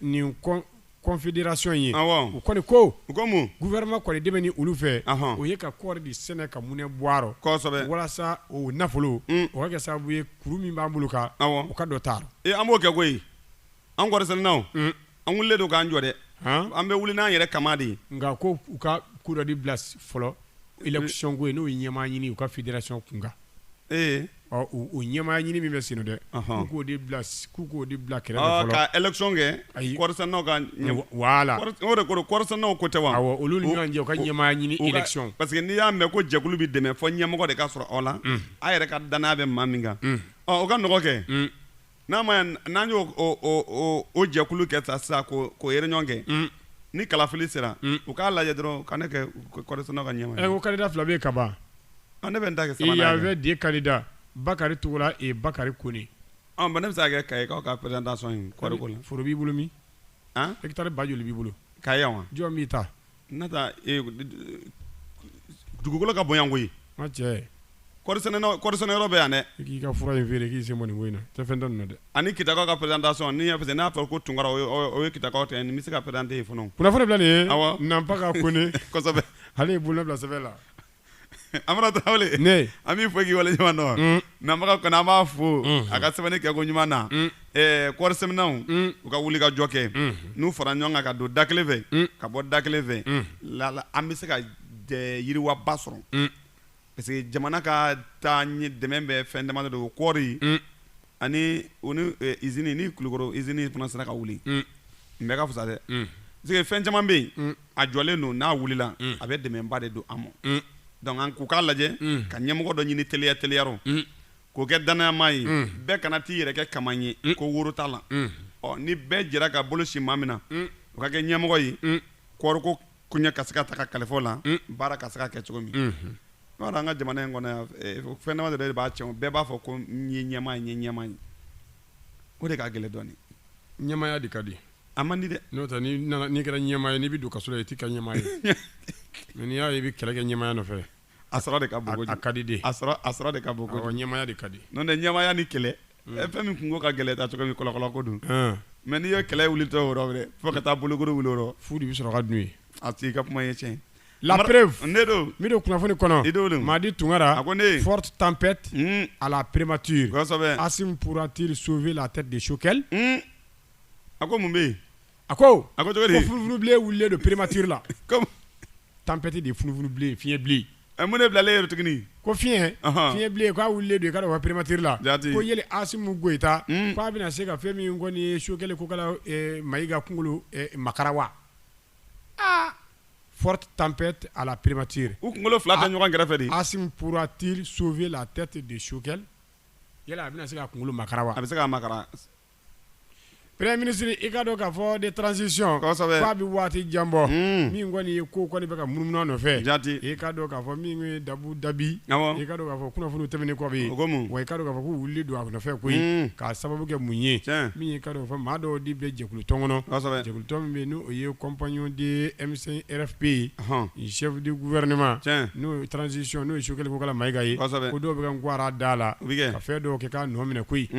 nin confédération ye u kɔni ko u ko mun gouvernement kɔni dɛmɛni olu fɛ o ye ka kɔɔri de sɛnɛ ka munɛ bɔ walasa o nafolo o ka kɛ sababu ye kuru min b'an bolo kan u ka dɔ ta an b'o kɛ koyi an kɔɔrisɛnɛnaw an wulilen don k'an jɔ dɛ an bɛ wuli n'an yɛrɛ kama de ye nka ko u ka ko dɔ de bila fɔlɔ élection ko ye n'o ye ɲɛmaa ɲini u ka fédération kunkan ee ɔ u ɲɛmaa ɲini min bɛ sen dɛ k'o de bila k'u k'o de bila kɛrɛfɛ ka élection kɛ ayi kɔɔrisɛnɛnaw ka voilà o de ko kɔɔrisɛnɛnaw ko tɛ wa olu ni ɲɔgɔn cɛ ka ɲɛmaa ɲini élection parce que n'i y'a mɛn ko jɛkulu bɛ dɛmɛ fɔ ɲɛmɔgɔ de ka sɔrɔ aw la a yɛrɛ ka danaya bɛ maa min kan o ka nɔgɔkɛ n'a ma n'an y'o o jɛkulu kɛ ta sisan ko ko yɛrɛ ɲɔgɔn kɛ ni kalafili sera u k'a lajɛ dɔrɔn ka ne kɛ kɔ ka ɲɛ ko kada fila bɛ ka ban ne bɛ ta kɛ bɛ di kada bakari tugula e bakari ko ne bɛ se kɛ ka aw ka pere dasɔn foro b'i bolo min i bɛ taa ba joli b'i bolo ka yan wa jɔn b'i ta N ta dugukolo ka bon yan koyi n cɛ kɔɔrisɛnɛ yɔrɔ bɛ yan dɛ k'i ka fura in feere k'i sen bɔ nin ko in na tɛ fɛn tɛ nin na dɛ ani kitakaw ka présentation n'i y'a fɛ n'a fɔra ko tunkara o ye kitakaw ta ye nin bɛ se ka présenter yen fana o kunnafoni filɛ nin ye awɔ Nanpaga Kone kosɛbɛ ale ye bolonɔ bila sɛbɛn la Amara Tarawele ne an b'i fo k'i wale ɲuman dɔn un Nanpaga Kone an b'a fo unhun a ka sɛbɛnni kɛko ɲuman na un ɛɛ kɔɔri sɛnɛnaw un u ka wuli ka jɔ kɛ unhun n'u fara ɲɔgɔn kan ka don da kelen fɛ un ka bɔ da kelen fɛ un lala an bɛ se ka yiriwaba sɔrɔ un parce que jamana ka taaɲɛ dɛmɛ bɛ fɛn dama de don o kɔɔri un ani u ni eh, izini ni kulukoro izini fana sera ka wuli n bɛɛ ka fisa dɛ parce que fɛn caman bɛ yen a jɔlen don n'a wulila a bɛ dɛmɛba de don an ma donc an k'u k'a lajɛ ka ɲɛmɔgɔ dɔ ɲini teliya teliyarɔ k'o kɛ danaya maa ye bɛɛ kana t'i yɛrɛ kɛ kaman ye ko woro t'a la ɔ ni bɛɛ jɛra ka bolo sin maa min na o ka kɛ ɲɛmɔgɔ ye kɔɔriko koɲɛ ka se ka ta ka kalifa o la baara ka se ka kɛ cogo min n'a an ka jamana in kɔnɔ fɛn dama de b'a cɛn bɛɛ b'a fɔ ko n ye ɲɛmaa ye n ye ɲɛmaa ye o de ka gɛlɛn dɔɔnin ɲɛmaya de ka di a man di dɛ n'o tɛ n'i kɛra ɲɛmaa ye n'i bɛ don kaso la i tɛ kɛ ɲɛmaa ye n'i y'a ye i bɛ kɛlɛ kɛ ɲɛmaya nɔfɛ a sɔrɔ de ka bon kojugu, a ka di de, a sɔrɔ a sɔrɔ de ka bon kojugu, ɲɛmaya de ka di, n'o tɛ ɲɛmaya ni kɛlɛ hmm. eh, fɛn min kungo ka gɛlɛn ta cogo min kɔlɔkɔlɔ ko don hmm. mais n'i ye kɛlɛ wulitɔ o yɔrɔ wɛrɛ fo ka taa bolokuru wuli o yɔrɔ fu de bɛ sɔrɔ ka dun yen a t'i ka kuma ye tiɲɛ La preuve, ne don, min don kunnafoni kɔnɔ, Madi Tunkara, a ko ne, forte tempête hmm. à la primature, kosɛbɛ, Assimi pourra-t-il sauver la tête de Choguel? Hmm. a ko mun bɛ yen A ko a ko furuurubbilen wili don perematieri la tanpti de furuurubbilen fiɲɛyɛn bilen a mun ne bilalen yɛrɛ tuguni ko fiɲɛyɛn fiɲɛyɛnbilen k'a wili don ka perematiere la ko yɛlɛ asimu gta k'a bɛna se ka fɛn min kɔni ye su kelen ko ma ka kunkolo mara wa aa fɔ tanpti a perepti u kunkolo fila ka ɲɔgɔn kɛrɛfɛ de asipti sofɛ la a tɛ ten de sokɛli yala a bɛna se ka kunkolo mara wa a bɛ se ka ma Premier ministre i ka dɔn k'a fɔ de transition k'a bɛ waati jan bɔ min kɔni ye ko kɔni bɛ ka munumunu a nɔfɛ jate i ka dɔn k'a fɔ min ye dabu dabi ye i ka dɔn k'a fɔ kunnafoniw tɛmɛnen kɔ bɛ wa i ka dɔn k'a fɔ ko wulilen don a nɔfɛ koyi k'a sababu kɛ mun ye min ye i ka dɔn k'a fɔ maa dɔw de bɛ jɛkulu tɔn kɔnɔ jɛkulutɔn min bɛ yen n'o ye compagnon de M5 RFP chef du gouvernement n'o ye transition n'o ye Sokɛli Kokala Mayiga ye ko dɔw bɛ ka nguwara da a la ka fɛn dɔw kɛ k'a nɔ minɛ koyi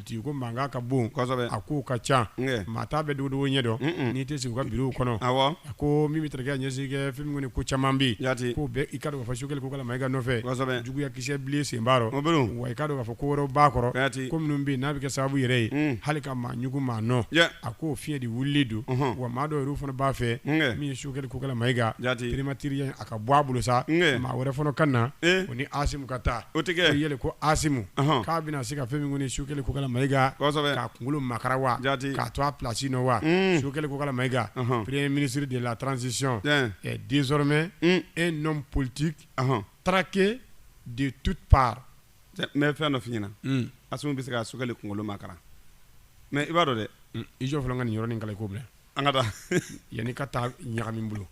tigi ko mankan ka bon a ko ka ca maa t'a bɛɛ dogodogo ɲɛ dɔn n'i tɛ sigi u ka biro kɔnɔ a ko min bɛ taa ɲɛsin kɛ fɛn min ko caman bɛ yen k'o bɛɛ i ka dɔn k'a fɔ Sokɛli Kokala Mayiga nɔfɛ juguya kisɛ bilen sen b'a rɔ wa i ka dɔn k'a fɔ ko wɛrɛ b'a kɔrɔ ko minnu bɛ yen n'a bɛ kɛ sababu yɛrɛ ye hali ka maa ɲugu maa nɔ a ko fiɲɛ de wulilen don wa maa dɔw yɛrɛ fana b'a fɛ min ye Sokɛli Kokala Mayiga prématuré ka bɔ a bolo sa maa wɛrɛ fana ka na o ni Asimi ka taa o yɛlɛ ko Asimi k'a bɛna se ka fɛn min kɔni Sokɛli Kokala Mayiga k'a kunkolo makara wa k'a to a plasi nɔ wa Sokɛli Kokala Mayiga premier ministre de la transition est désormais un homme politique traqué de toutes parts mɛ fɛn dɔ f'i ɲɛna Asimi bɛ se ka Sokɛli kunkolo makara mɛ i b'a dɔn dɛ i jɔ fɔlɔ n ka nin yɔrɔnin kalan ko bila An ka taa yani ka taa ɲagami n bolo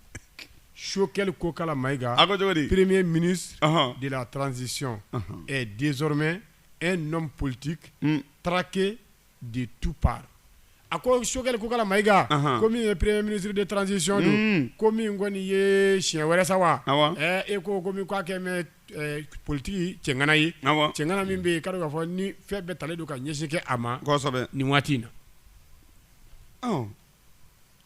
Sokɛli Kokala Mayiga a ko cogo di premier ministre ɔnhɔn de la transition ɔnhɔn est désormais un homme politique unn traqué de toutes parts a ko Sokɛli Kokala Mayiga ɔnhɔn ko min ye premier ministre de transition don unn ko min kɔni ye siɲɛ wɛrɛ sa wa awɔ ɛɛ e ko ko min k'a kɛ mɛ ɛɛ politique cɛŋana ye awɔ cɛŋana min bɛ yen i ka dɔn k'a fɔ ni fɛn bɛɛ talen don ka ɲɛsin kɛ a ma kɔsɛbɛ nin waati in na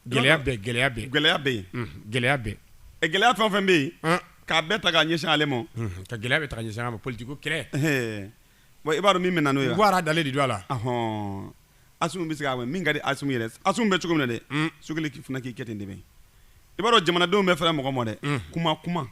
Gɛlɛya bɛ gɛlɛya bɛ gɛlɛya bɛ yen gɛlɛya bɛ ɛ gɛlɛya fɛn o fɛn bɛ yen k'a bɛɛ ta ka ɲɛsin ale ma ka gɛlɛya bɛɛ ta ɲɛsin a ma politiki ko kɛlɛba i b'a dɔn min bɛ na n'o ye nguwara dalen de don a la hɔn Asimi bɛ se ka min min ka di Asimi yɛrɛ ye Asimi bɛ cogo min na dɛ Sokɛli fana k'i kɛ ten de bɛɛ i b'a dɔn jamanadenw bɛ fɛrɛ mɔgɔ ma dɛ kuma kuma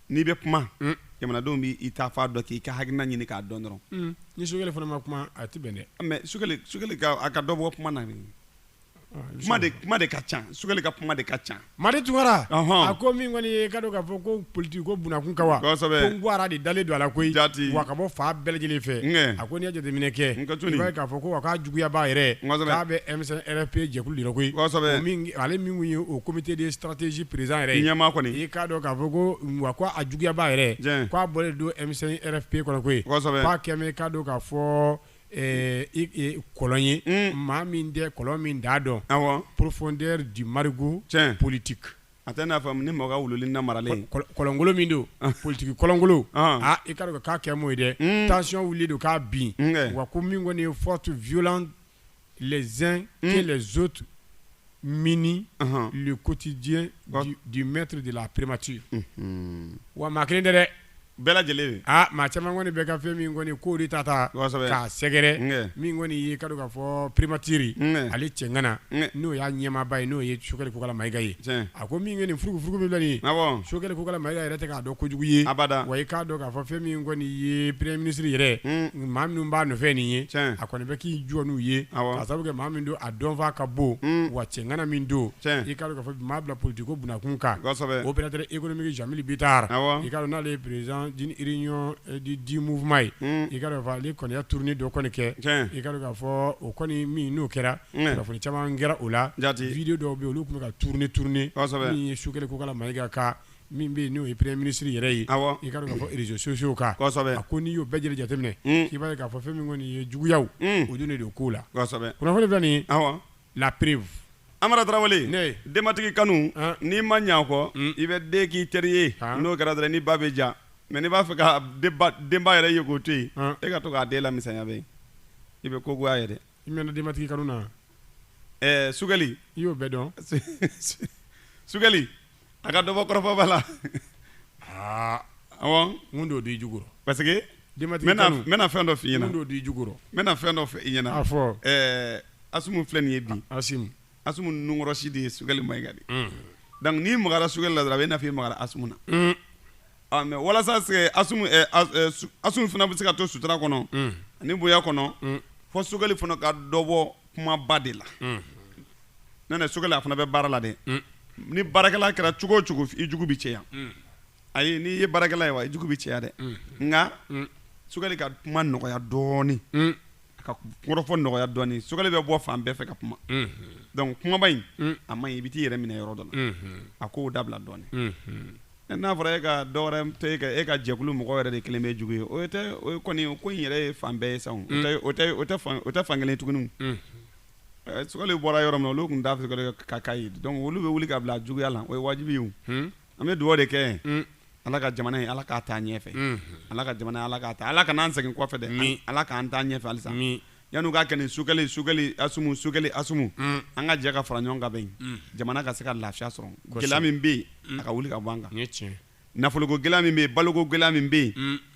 n'i bɛ kuma mm. jamanadenw bɛ i ta fa dɔn k'i ka hakilina ɲini k'a dɔn dɔrɔn mm. ni sukɛli fana ma kuma a tɛ bɛn dɛ ah, mɛ sukɛli sukɛli ka a ka dɔ bɔ kuma na ah, kuma de kuma de ka ca sukɛli ka kuma de ka ca Madi Tunkara a ko min kɔni ye ka dɔn k'a fɔ ko politiki ko bunakun ka wa kosɛbɛ ko nguwara de dalen don a la koyi jati wa ka bɔ fan bɛɛ lajɛlen fɛ a ko n'i ye jateminɛ kɛ n ka tuni i k'a fɔ ko wa k'a juguyaba yɛrɛ k'a bɛ M5 RFP jɛkulu de la koyi kosɛbɛ ale min kɔni ye o comité de stratégie président yɛrɛ ye ɲɛmaa kɔni ye i ka dɔn k'a fɔ ko wa ko a juguyaba yɛrɛ k'a bɔlen don M5 RFP kɔnɔ koyi k'a kɛlen i ka dɔn k'a fɔ kɔlɔn ye maa min tɛ kɔlɔn min da dɔn profondeur du marigot politique a tɛ n'a fɔ ni mɔgɔ wuli na maralen kɔlɔnkolon min don politigi kɔlɔnkolon aaa i ka dɔn k'a kɛ mun ye dɛ tension wulilen don k'a bin wa ko min kɔni forte violence les uns que les autres minent le quotidien du maître de la primature wa maa kelen tɛ dɛ bɛɛ lajɛlen maa caman kɔni bɛ ka fɛn min kɔni ko de ta taa k'a sɛgɛrɛ min kɔni y'i k'a dɔn k'a fɔ primature ale cɛŋana n'o y'a ɲɛmaaba ye n'o ye Sogɛli Kokala Mayiga ye a ko min kɔni furugufurugu min filɛ nin Sogɛli Kokala Mayiga yɛrɛ tɛ k'a dɔn kojugu ye wa i k'a dɔn a fɔ fɛn min kɔni ye peree minisiriri yɛrɛ maa min b'a fɛn nin ye a kɔni bɛ k'i jɔn n'u ye a sababu kɛ maa min don a dɔnfaa ka bon wa cɛgana min don i kaa fɔ maa bila politi ko bkun kan o bɛ e kɔni bɛ janmmi bi taa i ka n'ale ye pererez dimuuma ye i ka fɔ ale kɔniya turunin dɔ kɔni kɛ i ka k'a fɔ o kɔni min n'o kɛra kunnafoni caman kɛra o la jatedi dɔw bɛ olu tun bɛ ka turuninuni turuninuni ye su kelen ko ka ma ika kan min bɛ yen n'o ye premier ministre yɛrɛ ye i k'a dɔn k'a fɔ réseaux sociaux kan a ko n'i y'o bɛɛ lajɛlen jateminɛ k'i b'a ye k'a fɔ fɛn min kɔni ye juguyaw o dun de don ko la kunnafoni filɛ nin ye la preuve Amara Tarawele ne denbatigi kanu n'i ma ɲɛ kɔ i bɛ den k'i teri ye n'o kɛra dɔrɔn ni ba bɛ ja mais n'i b'a fɛ ka denba yɛrɛ ye k'o to yen e ka to k'a den lamisɛnya i bɛ ko goya ye dɛ I mɛnna denbatigi kanu na wa? Ɛɛ Sogɛli i y'o bɛɛ dɔn? Sogɛli a ka dɔ bɔ kɔrɔfɔba la aa awɔ mun de y'o d'i jugu rɔ? parce que denbatigi kanu n bɛna fɛn dɔ f'i ɲɛna mun de y'o d'i jugu rɔ? n bɛna fɛn dɔ fɔ i ɲɛna a fɔ ɛɛ Asimu filɛ nin ye bi Asimu Asimu nunkɔrɔsi de ye Sogɛli Mayiga di donc n'i magara Sogɛli la dɔrɔn a bɛ i n'a fɔ i magara Asimu na mais walasa Asimu fana bɛ se ka to sutura kɔnɔ ani bonya kɔnɔ fo Sogɛli fana ka dɔ bɔ kumaba de la n'o tɛ Sogɛli a fana bɛ baara la dɛ ni baarakɛla kɛra cogo o cogo i jugu bɛ caya ayi n'i ye baarakɛla ye wa i jugu bɛ caya dɛ nka Sogɛli ka kuma nɔgɔya dɔɔnin ka kɔrɔfɔ nɔgɔya dɔɔnin Sogɛli bɛ bɔ fan bɛɛ fɛ ka kuma donc kumaba in a man ɲi i bɛ t'i yɛrɛ minɛ yɔrɔ dɔ la a k'o dabila dɔɔnin n'a fɔra e ka e ka jɛkulu mɔgɔ yɛrɛ de kɛlen bɛ jugu ye o kɔni ko in yɛrɛ ye fan bɛɛ ye sa o tɛ fan kelen tuguni Sogɛli bɔra yɔrɔ min na olu tun t'a fɛ k'a ye donc olu bɛ wuli ka bila juguya la o ye wajibi ye An bɛ dugawu de kɛ ala ka jamana ye ala k'a taa ɲɛfɛ ala ka jamana ala ka taa ala kana an segin kɔfɛ dɛ ala k'an taa ɲɛfɛ halisa yanni u k'a kɛ nin Sogɛli Sogɛli Asimu Sogɛli Asimu an ka jɛ ka fara ɲɔgɔn kan ka bɛn jamana ka se ka lafiya sɔrɔ gɛlɛya min bɛ yen a ka wuli ka bɔ an kan nafoloko gɛlɛya min bɛ yen baloko gɛlɛya min bɛ yen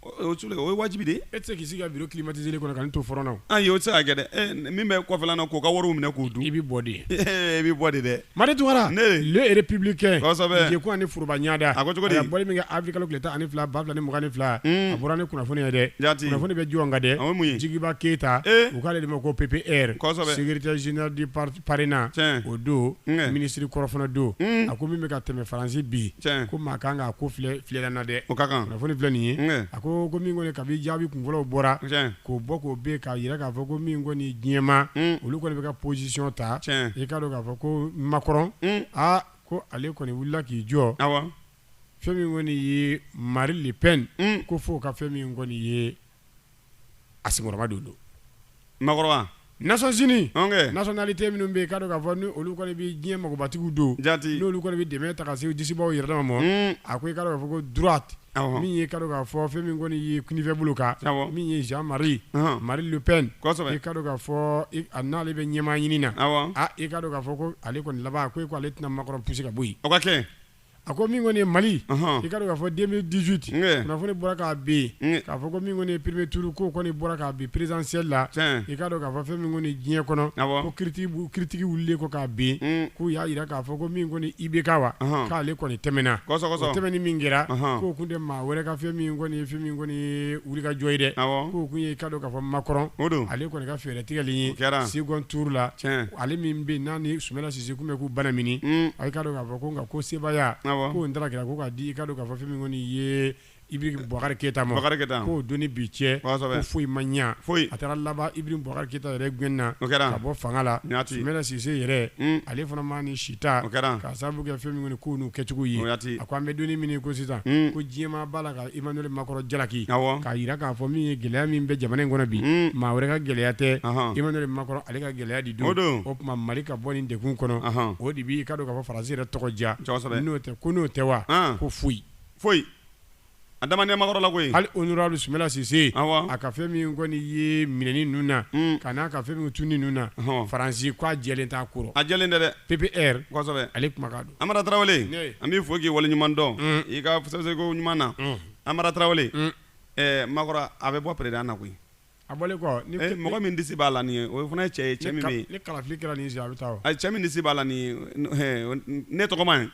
tuguni o ye wajibi de ye e tɛ se k'i sigi ka bureau climatisé kɔnɔ ka nin to fɔrɔn na ayi o tɛ se ka kɛ dɛ min bɛ kɔfɛla na k'o ka wari minɛ k'o dun i bɛ bɔ de i bɛ bɔ de dɛ Madi Tunkara le républicain jɛkun ani foroba ɲada a ko cogo di a bɔli min kɛ avril kalo tile tan ani fila ba fila ni mugan ni fila a bɔra ni kunnafoni ye dɛ kunnafoni bɛ jɔn kan dɛ Jigiba Keyita u k'ale de ma ko PPR secrétaire général du PARENA o don ministre kɔrɔ fana don a ko min bɛ ka tɛmɛ faransi bi ko maa kan k'a ko filɛ Filɛ na dɛ kunnafoni filɛ nin ye a ko ko min kɔni kabi jaabi kunfɔlɔw bɔra k'o bɔ k'o bɛ k'a jira k'a fɔ ko min kɔni diɲɛmaa olu kɔni bɛ ka position ta i k'a dɔn k'a fɔ ko Macron aa ko ale kɔni wulila k'i jɔ fɛn min kɔni ye Marine Le Pen ko fo ka fɛn min kɔni ye a senkɔrɔmadondon Macron Nations Unies nationalité minnu bɛ yen k'a dɔn k'a fɔ n'olu kɔni bɛ diɲɛ magobatigiw don n'olu kɔni bɛ dɛmɛ ta ka se disibaaw yɛrɛ dama ma a ko i k'a dɔn k'a fɔ ko droite min ye k'a dɔn k'a fɔ fɛn min kɔni ye kinifɛ bolo kan min ye Jean-Marie Marine Le Pen i k'a dɔn k'a fɔ a n'ale bɛ ɲɛmaa ɲini na i k'a dɔn k'a fɔ ko ale kɔni laban ko e ko ale tɛna Macron pousser ka bɔ yen A ko min kɔni ye mali i k'a dɔn k'a fɔ deux mille dix-huit kunnafoni bɔra k'a bin k'a fɔ ko min ye premier tour ko kɔni bɔra k'a bin présidentielle la i k'a dɔn k'a fɔ fɛn min kɔni diɲɛ kɔnɔ ko critique wulilen ko k'a bin k'u y'a jira k'a fɔ ko min kɔni IBK wa k'ale kɔni tɛmɛna tɛmɛni min kɛra k'o kun tɛ maa wɛrɛ ka fɛn min kɔni fɛn min kɔni ye wulikajɔ ye dɛ k'o kun ye i k'a dɔn k'a fɔ Macron ale kɔni ka fɛɛrɛ tigɛli ye second tour la ale min bɛ n'a ni Soumaïla Cissé kun bɛ k'u banamini a nka ko sebaaya ko taara kɛra ko k'a di i k'a dɔn k'a fɔ fɛn min kɔni ye Ibrahim Bubakari Keyita ma k'o don ni bi cɛ ko foyi ma ɲɛ a taara laban Ibrahim Bubakari Keyita yɛrɛ gɛnna ka bɔ fanga la Soumaïla Cissé yɛrɛ ale fana ma ni sita ka sababu kɛ fɛn nin kow n'u kɛcogo ye a ko an bɛ don min ko sisan ko diɲɛmaa b'a la Emmanuel Macron jalaki k'a jira k'a fɔ min ye gɛlɛya min bɛ jamana in kɔnɔ bi maa wɛrɛ ka gɛlɛya tɛ Emmanuel Macron ale ka gɛlɛya de don o tuma mali ka bɔ nin degun kɔnɔ o de b'i k'a dɔn k'a fɔ faransi yɛrɛ tɔgɔ diya n'o tɛ ko n'o tɛ wa ko foyi foyi a da ma nɛ Macron la koyi hali honorable Soumaïla Cissé a ka fɛn min kɔni ye minɛni ninnu na ka n'a ka fɛn min tunni ninnu na faransi k'a jɛlen t'a kɔrɔ a jɛlen tɛ dɛ PPR kosɛbɛ ale kuma don Amara Tarawele, ne ye, an b'i fo k'i waleɲuman dɔn, un, i ka sɛbɛnko ɲuman na, un, Amara Tarawele, un, ɛɛ Macron a bɛ bɔ président na koyi, a bɔlen kɔ, ni, e mɔgɔ min disi b'a la nin ye o fana ye cɛ ye cɛ min bɛ yen, ni kalafili kɛra nin ye sisan a bɛ taa o, ayi cɛ min disi b'a la nin ye ɛɛ ne tɔgɔma ye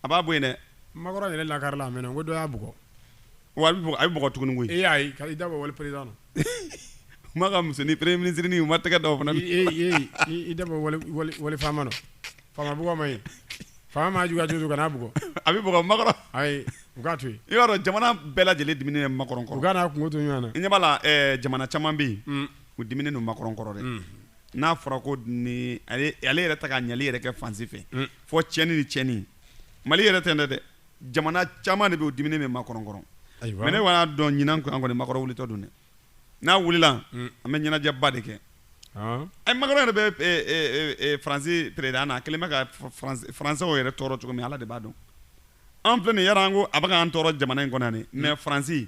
a b'a bɔ yen dɛ, Macron yɛrɛ lakarila a mɛnna n ko dɔ y'a bugɔ, wa a bɛ bugɔ tuguni koyi, ee ayi i da bɔ wali président na, u ma ka musonin premier ministre u ma tɛgɛ da o fana na, ee ee i da bɔ wali faama na Faama bugɔ man ɲi, faama mana juguya cogo o cogo kana a bugɔ, a bɛ bugɔ Macron, ayi u k'a to yen, i b'a dɔn jamana bɛɛ lajɛlen diminen bɛ Macron kɔrɔ, u ka n'a kungo to ɲɔgɔn na, i ɲɛ b'a la ɛ jamana caman bɛ yen, un, u diminen don Macron kɔrɔ dɛ, unhun, n'a fɔra ko nin ale yɛrɛ tɛ ka ɲɛli yɛrɛ kɛ fan si fɛ, un, fɔ tiɲɛni ni tiɲɛni, Mali yɛrɛ tɛ nin tɛ dɛ, jamana caman de bɛ yen u diminen bɛ Macron kɔrɔ, ayiwa, mais ne kɔni y'a dɔn ɲinan an kɔni Macron wulitɔ don dɛ n'a wulila an bɛ ɲɛnajɛba de kɛ ɛ Macron yɛrɛ bɛ faransi président na kelen bɛ ka faransɛw yɛrɛ tɔɔrɔ cogo min ala de b'a dɔn an filɛ nin an ko a bɛ k'an tɔɔrɔ jamana in kɔnɔ mais faransi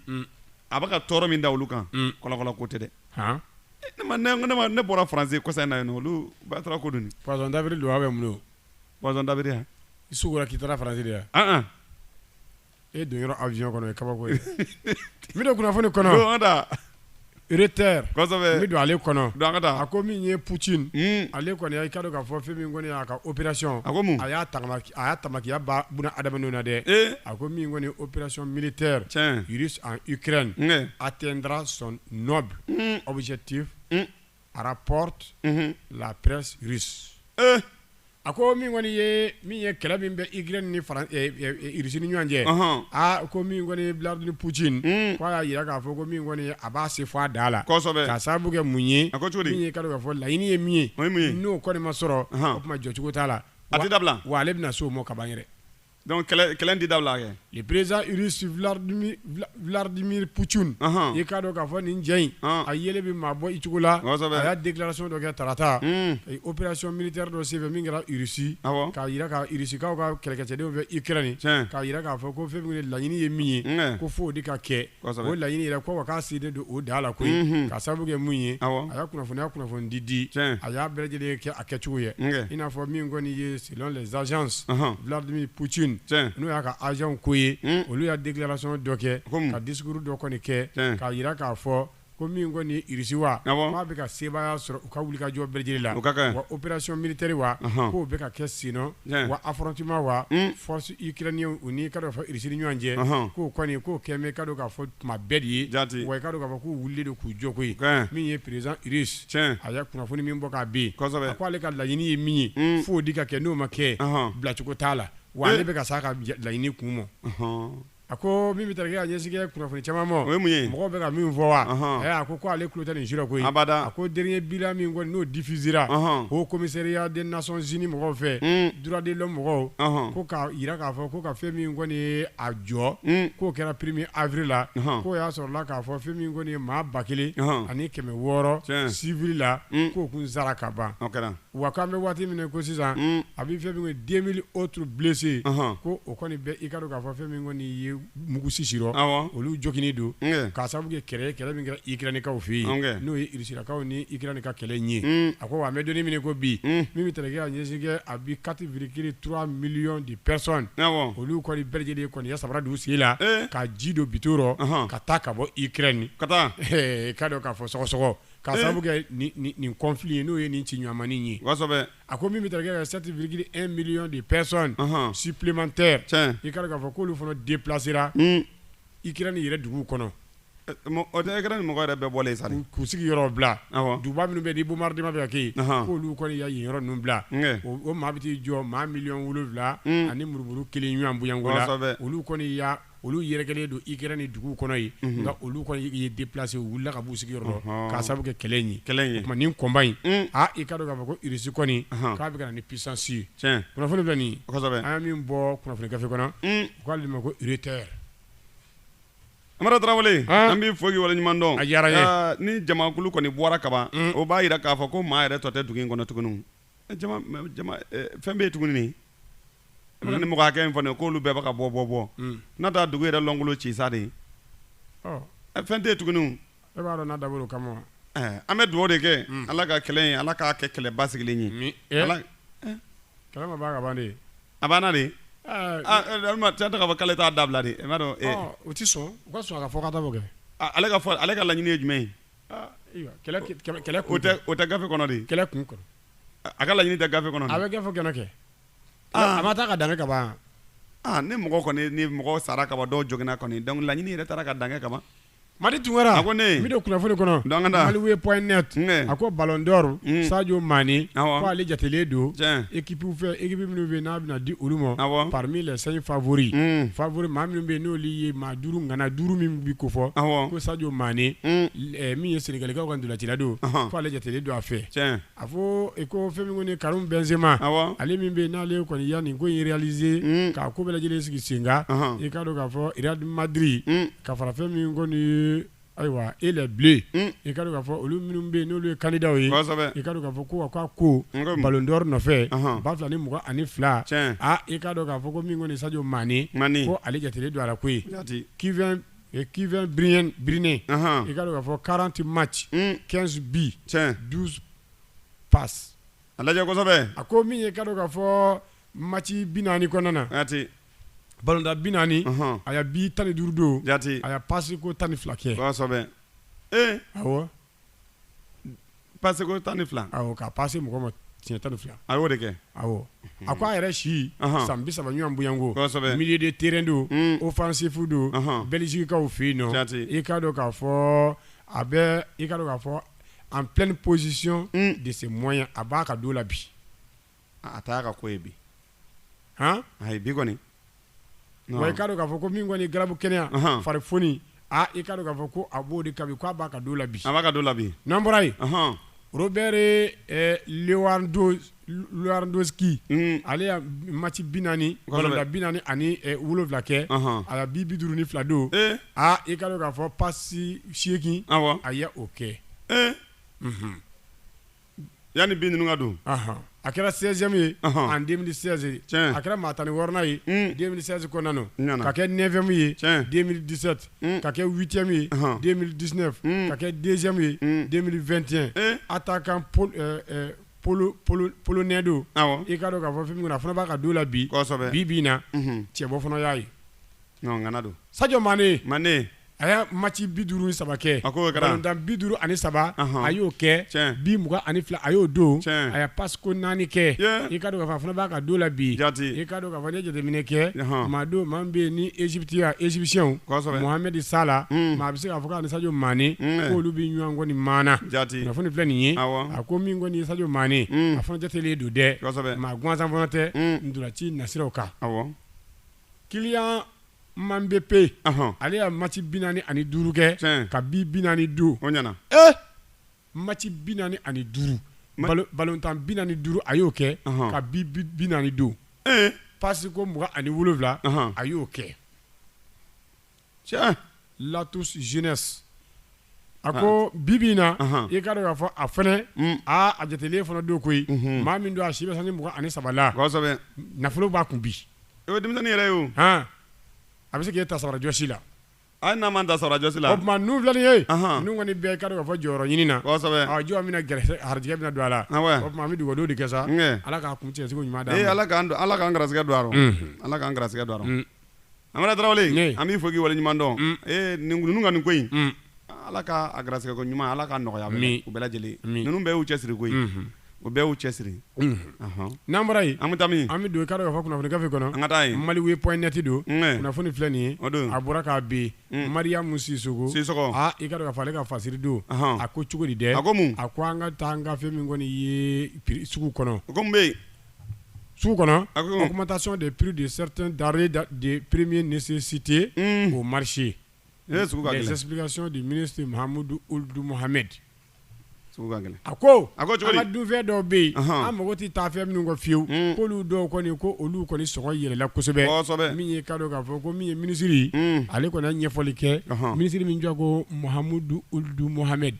a bɛ ka tɔɔrɔ min da olu kan kɔlɔkɔlɔ ko tɛ dɛ ne bɔra faransi kɔsa in na yen olu ba taara ko don poisson d'avril don a bɛ mun don poisson d'avril yan i k'i taara faransi yan e don yɔrɔ avion kɔnɔ o ye kabako ye n bɛ don kunnafoni kɔnɔ don an ka taa Reuters kosɛbɛ n bɛ don ale kɔnɔ don an ka taa a ko min ye Poutine un ale kɔni i ka dɔn k'a fɔ fɛn min kɔni y'a ka opération a ko mun a y'a tagama a y'a tamakiya ban buna adamadenw na dɛ ee a ko min kɔni ye opération militaire tiɲɛ russe en Ukraine un un a atteindra son noble un objectif un a rapporté la presse russe a ko min kɔni ye min ye kɛlɛ min bɛ Ukraine ni Russie ni ɲɔgɔn cɛ aa ko min kɔni Vladimir Poutine k'a y'a jira k'a fɔ ko min kɔni a b'a se fo a dan la k'a sababu kɛ mun ye min ye ka dɔn k'a fɔ laɲini ye min ye n'o kɔni ma sɔrɔ o tuma jɔcogo t'a la abada wa ale bɛna se o ma ka ban yɛrɛ Donc, kɛlɛ in tɛ dabila kɛ. Le président russe Vladimir Vladimir Poutine Ɔnhɔn. i k'a dɔn k'a fɔ nin cɛ in, Ɔn. a yelen bɛ maa bɔ i cogo la. Kosɛbɛ. A y'a déclaration dɔ kɛ tarata. Un. A ye opération militaire dɔ senfɛ min kɛra Russie. Awɔ. K'a jira ka Russikaw ka kɛlɛkɛcɛdenw bɛ Ukraine Tiɲɛ. K'a jira k'a fɔ ko fɛn min ye laɲini ye min ye. Unkɛ. Ko f'o de ka kɛ. Kosɛbɛ. O laɲini yɛrɛ ko wa k'a selen don o dan la koyi. Unhun. K'a sababu kɛ mun ye. Awɔ. A y'a kunnafoni y'a kunnafoni di di. Tiɲɛ. A y'a bɛɛ lajɛlen kɛ a kɛcogo ye. Unkɛ. I n'a fɔ min kɔni ye selon les agences. Ɔnhɔn. Vladimir Poutine. Tiɲɛ. N'o y'a ka agents ko ye. Un! Olu y'a déclaration dɔ kɛ. Kunun. Ka discours dɔ kɔni kɛ. Tiɲɛ. K'a jira k'a fɔ Ko min kɔni ye Russie wa, awɔ, k'a bɛ ka sebaaya sɔrɔ u ka wulikajɔ bɛɛ lajɛlen la, o ka kan, wa opération militaire wa, ɔnhɔn, k'o bɛ ka kɛ senna, tiɲɛ, wa affrontement wa, un, forces ukrainiennes u ni i ka dɔn k'a fɔ Russie ni ɲɔgɔn cɛ, ɔnhɔn, k'o kɔni k'o kɛ bɛ i ka dɔn k'a fɔ tuma bɛɛ de ye, jaati, wa i ka dɔn k'a fɔ k'u wulilen don k'u jɔ koyi, tiɲɛ, min ye président Russe tiɲɛ, a ye kunnafoni min bɔ k'a bin, kosɛbɛ, a ko ale ka laɲini ye min ye, un, f'o de ka kɛ n'o ma kɛ, ɔnhɔn, bilacogo t'a la, wa ale bɛ ka s'a ka laɲini kun ma, ɔnhɔn A ko min bɛ tali kɛ a ɲɛsin kɛ kunnafoni caman ma o ye mun ye mɔgɔw bɛ ka min fɔ wa a ko k'ale ale tulo tɛ nin si la koyi abada a ko dernier bilan min kɔni n'o diffusera ko commissariat des Nations Unies mɔgɔw fɛ droits de l'homme mɔgɔw ko k'a jira k'a fɔ ko ka fɛn min kɔni ye a jɔ k'o kɛra premier avril la k'o y'a sɔrɔla k'a fɔ fɛn min kɔni ye maa ba kelen ani kɛmɛ wɔɔrɔ civil la k'o kun sara ka ban kɛra wa k'an bɛ waati min ko sisan a bɛ fɛn den o tu bilisi ko o kɔni bɛ i ka k'a fɔ fɛn min ye mugusisi olu jɔkini don ka sababu kɛ kɛlɛ kɛlɛ min kɛ iinikaww fɛ yen n'o yekaw ni i ni ka kɛlɛ ye a ko wa bɛ don min ko bi min bɛ taa k' ɲɛsinkɛ a bɛ katiirikiri tu miliy de pɛsɔn olu kɔni bɛɛjɛlen kɔni ye samara dugu sigi la ka ji don bito ka taa ka bɔ ik nin ka taa k'a dɔn k'a fɔ sɔgɔsɔgɔ K'a sababu kɛ nin conflit ye n'o ye nin ci ɲɔgɔnmani ye a ko min bɛ taa kɛ sept virgule un million de personnes supplémentaires i ka dɔn k'a fɔ k'olu fana déplacera Ukraine yɛrɛ dugu kɔnɔ o tɛ Ukraine mɔgɔ yɛrɛ bɛɛ bɔlen sa k'u sigi yɔrɔ bila duguba minnu bɛ ni bombardement bɛ ka kɛ k'olu kɔni ya yen yɔrɔ ninnu bila o maa bɛ t'i jɔ maa miliyɔn wolowula ani murumuru kelen ɲɔgɔn bonyako la olu kɔni olu yɛrɛkɛlen don Ukraine dugu kɔnɔ yen nka olu kɔni ye déplacer u wulila ka b'u sigi yɔrɔ k'a sababu kɛ kɛlɛ in ye o tuma nin combat in aaa i ka dɔn k'a fɔ ko irisi kɔni k'a bɛ ka na ni puissance ye kunnafoni filɛ nin an ye min bɔ kunnafoni gafe kɔnɔ u k'ale ma ko Reuters Amara Tarawele an b'i fo k'i waleɲuman dɔn a diyara ni jamakulu kɔni bɔra kaban o b'a jira k'a fɔ ko maa yɛrɛ tɔ tɛ dugu in kɔnɔ tuguni fɛn bɛ yen tuguni ni mɔgɔ hakɛ in fana k'olu bɛɛ bɛ ka bɔ bɔ bɔ n'a taa dugu yɛrɛ lankolon ci sa de fɛn tɛ yen tuguni e b'a dɔn n'a dabɔra o kama an bɛ dugawu de kɛ ala ka kɛlɛ ala k'a kɛ kɛlɛ basigilen ye kɛlɛ ka ban a banna de cɛ k'a fɔ k'ale t'a dabila de i b'a dɔn u tɛ sɔn ka fɔ ka kɛ ale ka laɲini ye jumɛn ye O tɛ gafe kɔnɔ de kɛlɛ kun kɔnɔ a ka laɲini tɛ gafe kɔnɔ a bɛ gafe kɛnɛ kɛ a ma taa ka dan kɛ kaban ni mɔgɔ kɔni ni mɔgɔ sara kaban dɔw joginna kɔni donc laɲini yɛrɛ taara ka dan kɛ kaban Madi Tunkara a ko ne min don kunnafoni kɔnɔ Maliweb point net a ko Ballon d'Or Sadio Mané k'ale jatelen don équipew fɛ équipe minnu fɛ n'a bɛna di olu ma parmi les cinq favoris favoris maa minnu bɛ n'olu ye duuru ŋana duuru min bɛ ko fɔ ko Sadio Mané min ye Senegalikaw ka ntolacila don k'ale jatelen don a fɛ a fɔ i ko fɛn min kɔni Karim Benzema ale min bɛ n'ale kɔni ya nin ko in réaliser k'a ko bɛɛ lajɛlen sigi sen kan i ka dɔn k'a fɔ Real Madrid ka fara fɛn min kɔni Ayiwa e la bilen i ka k'a fɔ olu minnu bɛ yen n'olu ye kanda ye i ka k'a fɔ ko ka ko nkalon dɔ nɔfɛ ba fila ni mɔgɔ ani fila aaa i kaa dɔn k'a fɔ ko min kɔni sajo maa ko ale jate don a ko kifɛn bi birinnen i ka k'a fɔ karanti ma ci kɛnsu bi du pa a lajɛsɛbɛ a ko min ye ka k'a fɔ mati bi naaniani kɔnɔna na ballon tan bi naani a ye bi tan ni duuru don jate a ye pasi ko tan ni fila kɛ ee pasi ko tan ni fila ka pasi mɔgɔ ma tiɲɛ tan ni fila a y'o de kɛ a a ko a yɛrɛ si san bi saba ɲɔgɔn bonya ko milieu de terrain don offensif don Belgiquekaw fɛ yen nɔ jate i k'a dɔn k'a fɔ a bɛ i k'a dɔn k'a fɔ en pleine possession de ses moyens a b'a ka don la bi a t'a ka ko ye bi hɔn ayi bi kɔni wa i k'a dɔn k'a fɔ ko min kɔni garabu kɛnɛya farifoni i k'a dɔn k'a fɔ ko a b'o de kan bi k'a b'a ka don la bi a b'a ka don la bi n'an bɔra yen Robert Lewandowski ale ye mati bi naani la bi naani ani wolowula kɛ a ye bi bi duuru ni fila don aa i k'a dɔn k'a fɔ pasi seegin a y'o kɛ Yanni bi ninnu ka don, anhan, a kɛra 16 ème ye en 2016 tiɲɛ, a kɛra maa tan ni wɔɔrɔnan ye 2016 kɔnɔna na, n ɲana, ka kɛ 9 ème ye 2017 ka kɛ 8 ème ye 2019 ka kɛ 2 ème ye 2021 attaquant pol ɛɛ pol pol polonais don, awɔ, i k'a dɔn k'a fɔ fɛn min kɔni a fana b'a ka don na bi, kosɛbɛ, bi bi in na cɛbɔ fana y'a ye Sadio Mané a ye mati bi duuru ni saba kɛ a bi duuru ani saba a y'o kɛ bi mugan ani fila a y'o don a ye pasi ko naani kɛ i k'a dɔn k'a fɔ a fana b'a ka don la bi i k'a dɔn k'a fɔ n'e y'a jateminɛ kɛ maa don maa bɛ ni égyptien égyptien Mohamed Salah maa bɛ se k'a fɔ k'a ni Sadio Mané k'olu bɛ ɲɔgɔn kɔni maana kunnafoni filɛ nin ye a ko min kɔni Sadio Mané a fana jatelen don dɛ maa gansan fana tɛ ntolaci nasiraw kan Kylian Mbappé ale ye mati bi naani ani duuru kɛ ka bi bi naani don o ɲana e mati bi naani ani duuru balon tan bi naani duuru a y'o kɛ ka bi bi naani don ee pasi ko mugan ani wolowula a y'o kɛ tiɲɛ l'atout jeunesse a ko bi bi in na i ka dɔn k'a fɔ a fana aa a jatelen fana don koyi maa min don a si bɛ sanji mugan ani saba la kosɛbɛ nafolo b'a kun bi o ye denmisɛnnin yɛrɛ ye o han a bɛ se k'e ta sabara jɔsi la a n'a ma ta sabara jɔsi la o tuma ninnu filɛ nin ye ninnu kɔni bɛ i ka dɔn k'a fɔ jɔyɔrɔ ɲini na kosɛbɛ ɔ jɔn bɛna garisɛgɛ harijɛgɛ bɛna don a la o tuma an bɛ dugawu dɔrɔn de kɛ sa ala ka kuncɛ cogo ɲuman d'an ma ee ala k'an garisɛgɛ don a rɔ ala k'an garisɛgɛ don a rɔ Amara Tarawele an b'i fo k'i wale ɲuman dɔn mm. ee nin ninnu ka nin ko in mm. ala k'a garisɛgɛ ko ɲuman ala ka nɔgɔya min u bɛɛ lajɛlen ninnu bɛɛ y'u cɛsiri koyi mm-hmm. u bɛɛ y'u cɛsiri mm-hmm. n'an bɔra yen an bɛ taa min an bɛ don i ka dɔn k'a fɔ kunnafoni gafe kɔnɔ an ka taa yen Maliweb point net don kunnafoni filɛ nin ye o don a bɔra k'a bin mm. mariyamu sisoko sisoko aa i ka dɔn k'a fɔ ale ka fasiri don a ko cogo di dɛ a ko mun a ko an ka taa an ka fɛn min kɔni ye sugu kɔnɔ o ko mun bɛ yen su kɔnɔ a kuma taa sɔn de pur de sɛte da de perepibie nisi site o marise sɛgɛkasiɔn de minisimudu olidumuhame a ko a dunfɛ dɔw bɛ yen an mago tɛ taa fɛn min ka fiyewu ko'olu dɔw kɔni ko olu kɔni s yɛlɛla kosɛbɛ min ye ka k'a fɔ ko min ye minisiriri ale kɔni ɲɛfɔli kɛ minisiriri min jɔ kohamidumuhame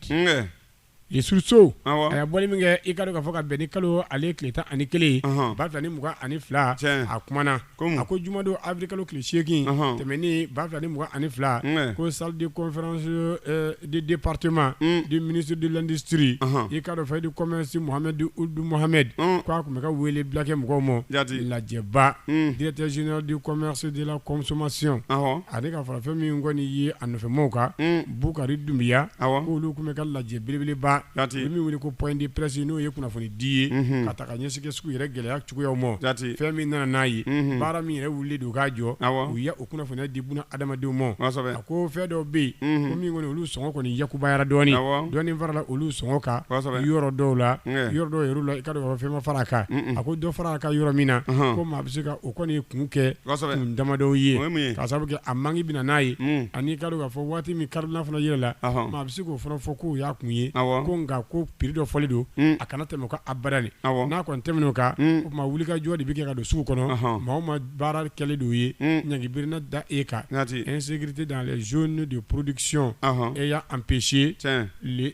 Ni suruso a bɔ min kɛ i ka ka fɔ ka bɛn ni kalo ale tile tan ani kelen ba fila ni mugan ani fila a kumaumana a ko jumadon a bɛ kalo tile seegin tɛmɛn ni ba fila ni mugan ani fila ko sadi de patɛma di minisiridilanditiriri i ka fɛ di comɛnsi muhamiduhamadu k' a tun bɛ ka wele bilakɛ mɔgɔw ma lajɛba dtɛ z di kɔmisi de la kɔsɔnmasiy ale ka fara fɛn min kɔni ye a nɔfɛmaw kan Bukari Dunbiya, awɔ, k'olu tun bɛ ka lajɛ belebeleba, jaati, u bɛ min wele ko point de presse n'o ye kunnafoni di ye, unhun, ka ta ka ɲɛsin kɛ sugu yɛrɛ gɛlɛya cogoyaw ma, jaati, fɛn min nana n'a ye, unhun, baara min yɛrɛ wulilen don k'a jɔ, awɔ, u ye o kunnafoniya di buna adamadenw ma, kosɛbɛ, a ko fɛn dɔw bɛ yen, unhun, ko min kɔni olu sɔngɔ kɔni yakubayara dɔɔnin, awɔ, dɔɔnin farala olu sɔngɔ kan, kosɛbɛ, yɔrɔ dɔw la, ɲɛ, yɔrɔ dɔw yɛrɛ la i ka dɔn k'a fɔ fɛn ma fara a kan, un un, a ko dɔ farala a kan yɔrɔ min na, ɔnhɔn, ko maa bɛ se ka o kɔni kun kɛ, kosɛbɛ, kun damadɔw ye, o ye mun ye, k'a sabu kɛ a manque bɛ na n'a ye, un, ani i ka dɔn k'a fɔ waati min kari fana yɛlɛ la a bɛ se k'o fana fɔ k'u y'a kun ye ko nka ko piri dɔ fɔli don a kana tɛmɛ ka a bara n'a kɔni tɛmɛn o kan o tuma wuli ka jɔ de bɛ kɛ ka don sugu kɔnɔ maa ma baara kɛlɛ de ye ɲggebrinna da e kan nte dan z de porodiksiyɔn e y'an psi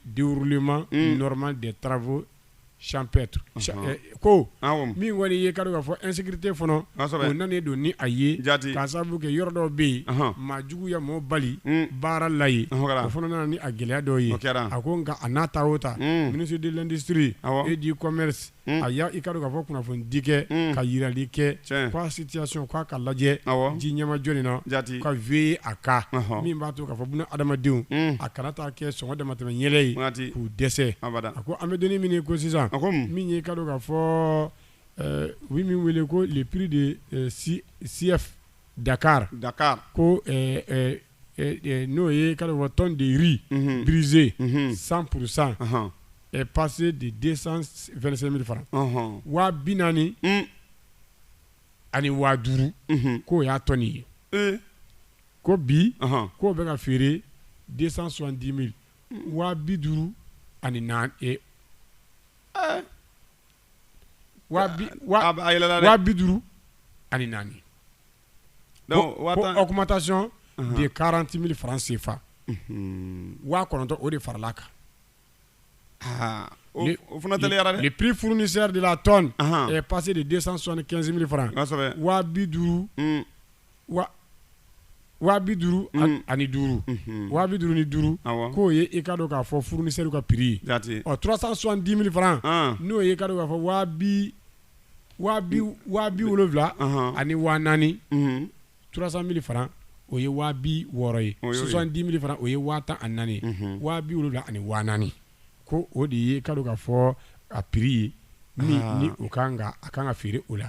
duurulima nɔrɔma de tarawelebo champêtres ko min kɔni ye ka dɔn k'a fɔ insécurité fana o nanen don ni a ye k'a sababu kɛ yɔrɔ dɔ bɛ yen maa jugu ye mɔgɔ bali baara la yen o fana nana ni a gɛlɛya dɔw ye a ko nka a n'a ta o ta ministre de l'industrie et du commerce a y'a i ka dɔn k'a fɔ kunnafoni di kɛ ka jirali kɛ ko situation k'a ka lajɛ ji ɲɛmajɔlen na ka veiller a kan min b'a to k'a fɔ buna adamadenw a kana taa kɛ sɔngɔ damatɛmɛ yɛlɛ ye k'u dɛsɛ a ko an bɛ donnin min na i ko sisan, a ko mun, min ye i ka dɔn k'a fɔ ɛɛ u bɛ min wele ko le prix de CIF Dakar, Dakar, ko ɛɛ ɛɛ n'o ye i ka dɔn k'a fɔ tonne de riz brisé 100 pour 100 est passé de 225 mille francs ɔnhɔn, waa bi naani ani waa duuru k'o y'a tonne ye, ee, ko bi k'o bɛ ka feere 270 mille waa bi duuru ani naani ee ɛɛ waa bi waa A bɛ- a yɛlɛla dɛ. waa bi duuru ani naani Donc, ko waa ko tan- augmentation Ahan. de 40 000 francs CFA Mhm. waa kɔnɔntɔn o de faral'a kan Ah, o Le- o fana tɛliyara le dɛ prix fournisseur de la tonne Ahan. est passé de 275 000 francs Kosɛbɛ. waa bi duuru Mm, wa waa bi duuru ani duuru waa bi duuru ni duuru k'o ye i k'a dɔn k'a fɔ fournisseur ka prix ye 370 000 francs n'o ye i k'a dɔn k'a fɔ waa waa bi wolowula ani waa naani 300 000 francs o ye waa bi wɔɔrɔ ye 70 000 francs o ye waa tan ani naani waa bi wolowula ani waa naani ko o de ye i k'a dɔn k'a fɔ a prix ye ni o ka kan a ka kan ka feere o la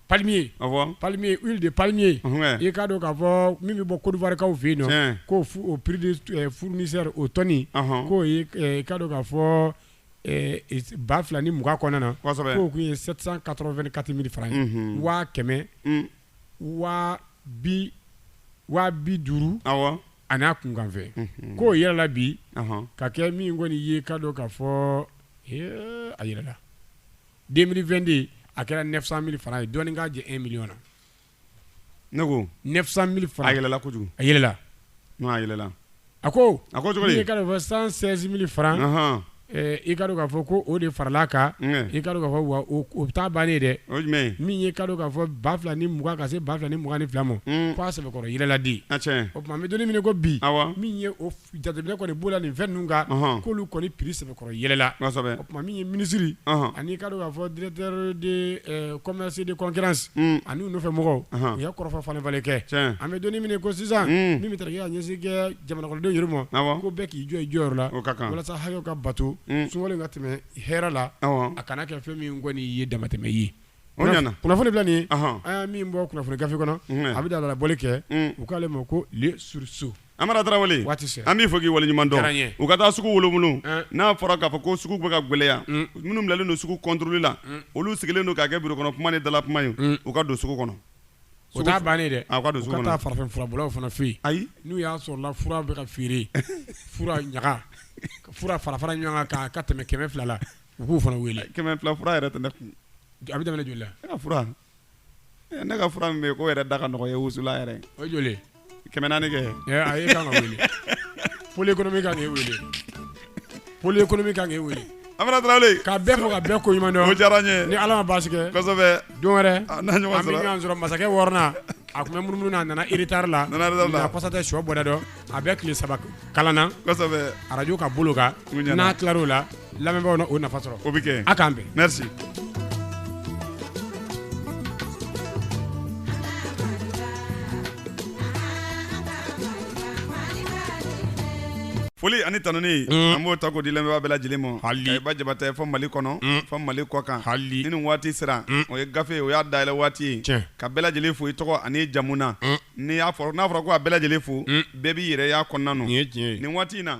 palmier awɔ palmier huile de palmier Ɔhɔn. i k'a dɔn k'a fɔ min bɛ bɔ Côte d'Ivoire kaw fɛ yen nɔ Tiɲɛ. k'o fu- o prix de eh, fournisseur o tɔni Ɔhɔn. k'o ye eh, i k'a dɔn k'a fɔ eh, is- ba fila ni mugan kɔnɔna na Kosɛbɛ. k'o tun ye 784 000 francs ye Mhm. waa kɛmɛ Mm. waa bi waa bi duuru awɔ an'a kunkanfɛn Mhm. k'o yɛlɛla bi Ɔhɔn. ka kɛ min kɔni ye k'a dɔn k'a fɔ eh, a yɛlɛla den2den a kɛra nɛgɛsan miri fana ye dɔnni k'a jɛ e mily na ne ko nɛgɛsan miri fara yɛlɛla kojugu a yɛlɛla yɛlɛla a ko a ko fɔ san sɛsinbili fara i ka k'a fɔ ko o de farala kan i ka fɔ wa o bɛ taa ban ye dɛ min ye ka k'a fɔ ba fila ni mugan ka se ba fila ni mugan ni fila ma k' a sɛbɛnbɛkɔrɔ yɛlɛladi o tuma bɛ don minɛ ko bi min ye jateminɛ kɔni b'o la nin fɛn ninnu kan, ɔnhɔn, k'olu kɔni prix sɛbɛkɔrɔ yɛlɛla, kosɛbɛ, o tuma min ye minisiri, ɔnhɔn, an'i k'a dɔn k'a fɔ directeur de ɛ commerce et de concurrence un, ani u nɔfɛ mɔgɔw, ɔnhɔn, u ye kɔrɔfɔ falen falen kɛ, tiɲɛ, an bɛ don min na i ko sisan, un, min bɛ tali kɛ ka ɲɛsin kɛ jamanakɔnɔdenw yɛrɛ ma, awɔ, ko bɛɛ k'i jɔ i jɔyɔrɔ la, o ka kan, walasa hakɛw ka bato, un, sunkalo in ka tɛmɛ hɛrɛ la, awɔ, a kana kɛ fɛn min kɔni ye damatɛmɛ ye, o ɲɛna, kunnafoni filɛ nin ye, ɔnhɔn, an ye min bɔ kunnafoni gafe kɔnɔ, unhun, a bɛ dalala bɔli kɛ, un, u k'ale ma ko Le Sursaut Amara Tarawele waati sera an b'i fo k'i waleɲuman dɔn diyara n ye u ka taa suguw lamunu Ɛn. n'a fɔra k'a fɔ ko sugu bɛ ka gwɛlɛya Mm. minnu bilalen don sugu kɔntoroli la Mm. olu sigilen don k'a kɛ birokɔnɔ kuma ni dala kuma ye Mm. u ka don sugu kɔnɔ o t'a bannen dɛ a u ka don u sugu ka taa kɔnɔ farafin furabɔlaw fana fɛ yen ayi n'u y'a sɔrɔla fura bɛ ka feere fura ɲaga ka fura fara fara ɲɔgɔn kan k'a ka tɛmɛ kɛmɛ fila la u k'u fana wele kɛmɛ fila fura yɛrɛ tɛ ne kun a bɛ daminɛ joli la ne ka fura ne ka fura min bɛ yen k'o yɛrɛ da ka nɔgɔ ye wusula yɛrɛ o ye joli ye kɛmɛ naani kɛ a ye kan ka wele pôle économique kan k'e wele pôle économique kan k'e wele Amara Tarawele ka bɛɛ fo ka bɛɛ koɲuman dɔn o diyara n ye ni Ala ma baasi kɛ kosɛbɛ don wɛrɛ an na ɲɔgɔn sɔrɔ an bɛ ɲɔgɔn sɔrɔ masakɛ wɔɔrɔnan a tun bɛ munumunu na a nana retard la a nana retard la nka kɔsa tɛ so bɔda dɔn a bɛ tile saba kalan na arajo ka bolo kan n'a tila o la lamɛnbaaw na o nafa sɔrɔ o bɛ kɛ a k'an bɛn foli ani tanuni mm. an b'o ta k'o di lamɛnbaa bɛɛ lajɛlen ma hali ba jabatɛ fo mali kɔnɔ mm. fo mali kɔkan ni nin waati sera mm. o ye gafe o y'a dayɛlɛ waati ye ka bɛɛ lajɛlen fo i tɔgɔ ani jamu na N'i y'a fɔ n'a fɔra ko a bɛɛ lajɛlen fo bɛɛ b'i yɛrɛ y'a kɔnɔna nin waati in na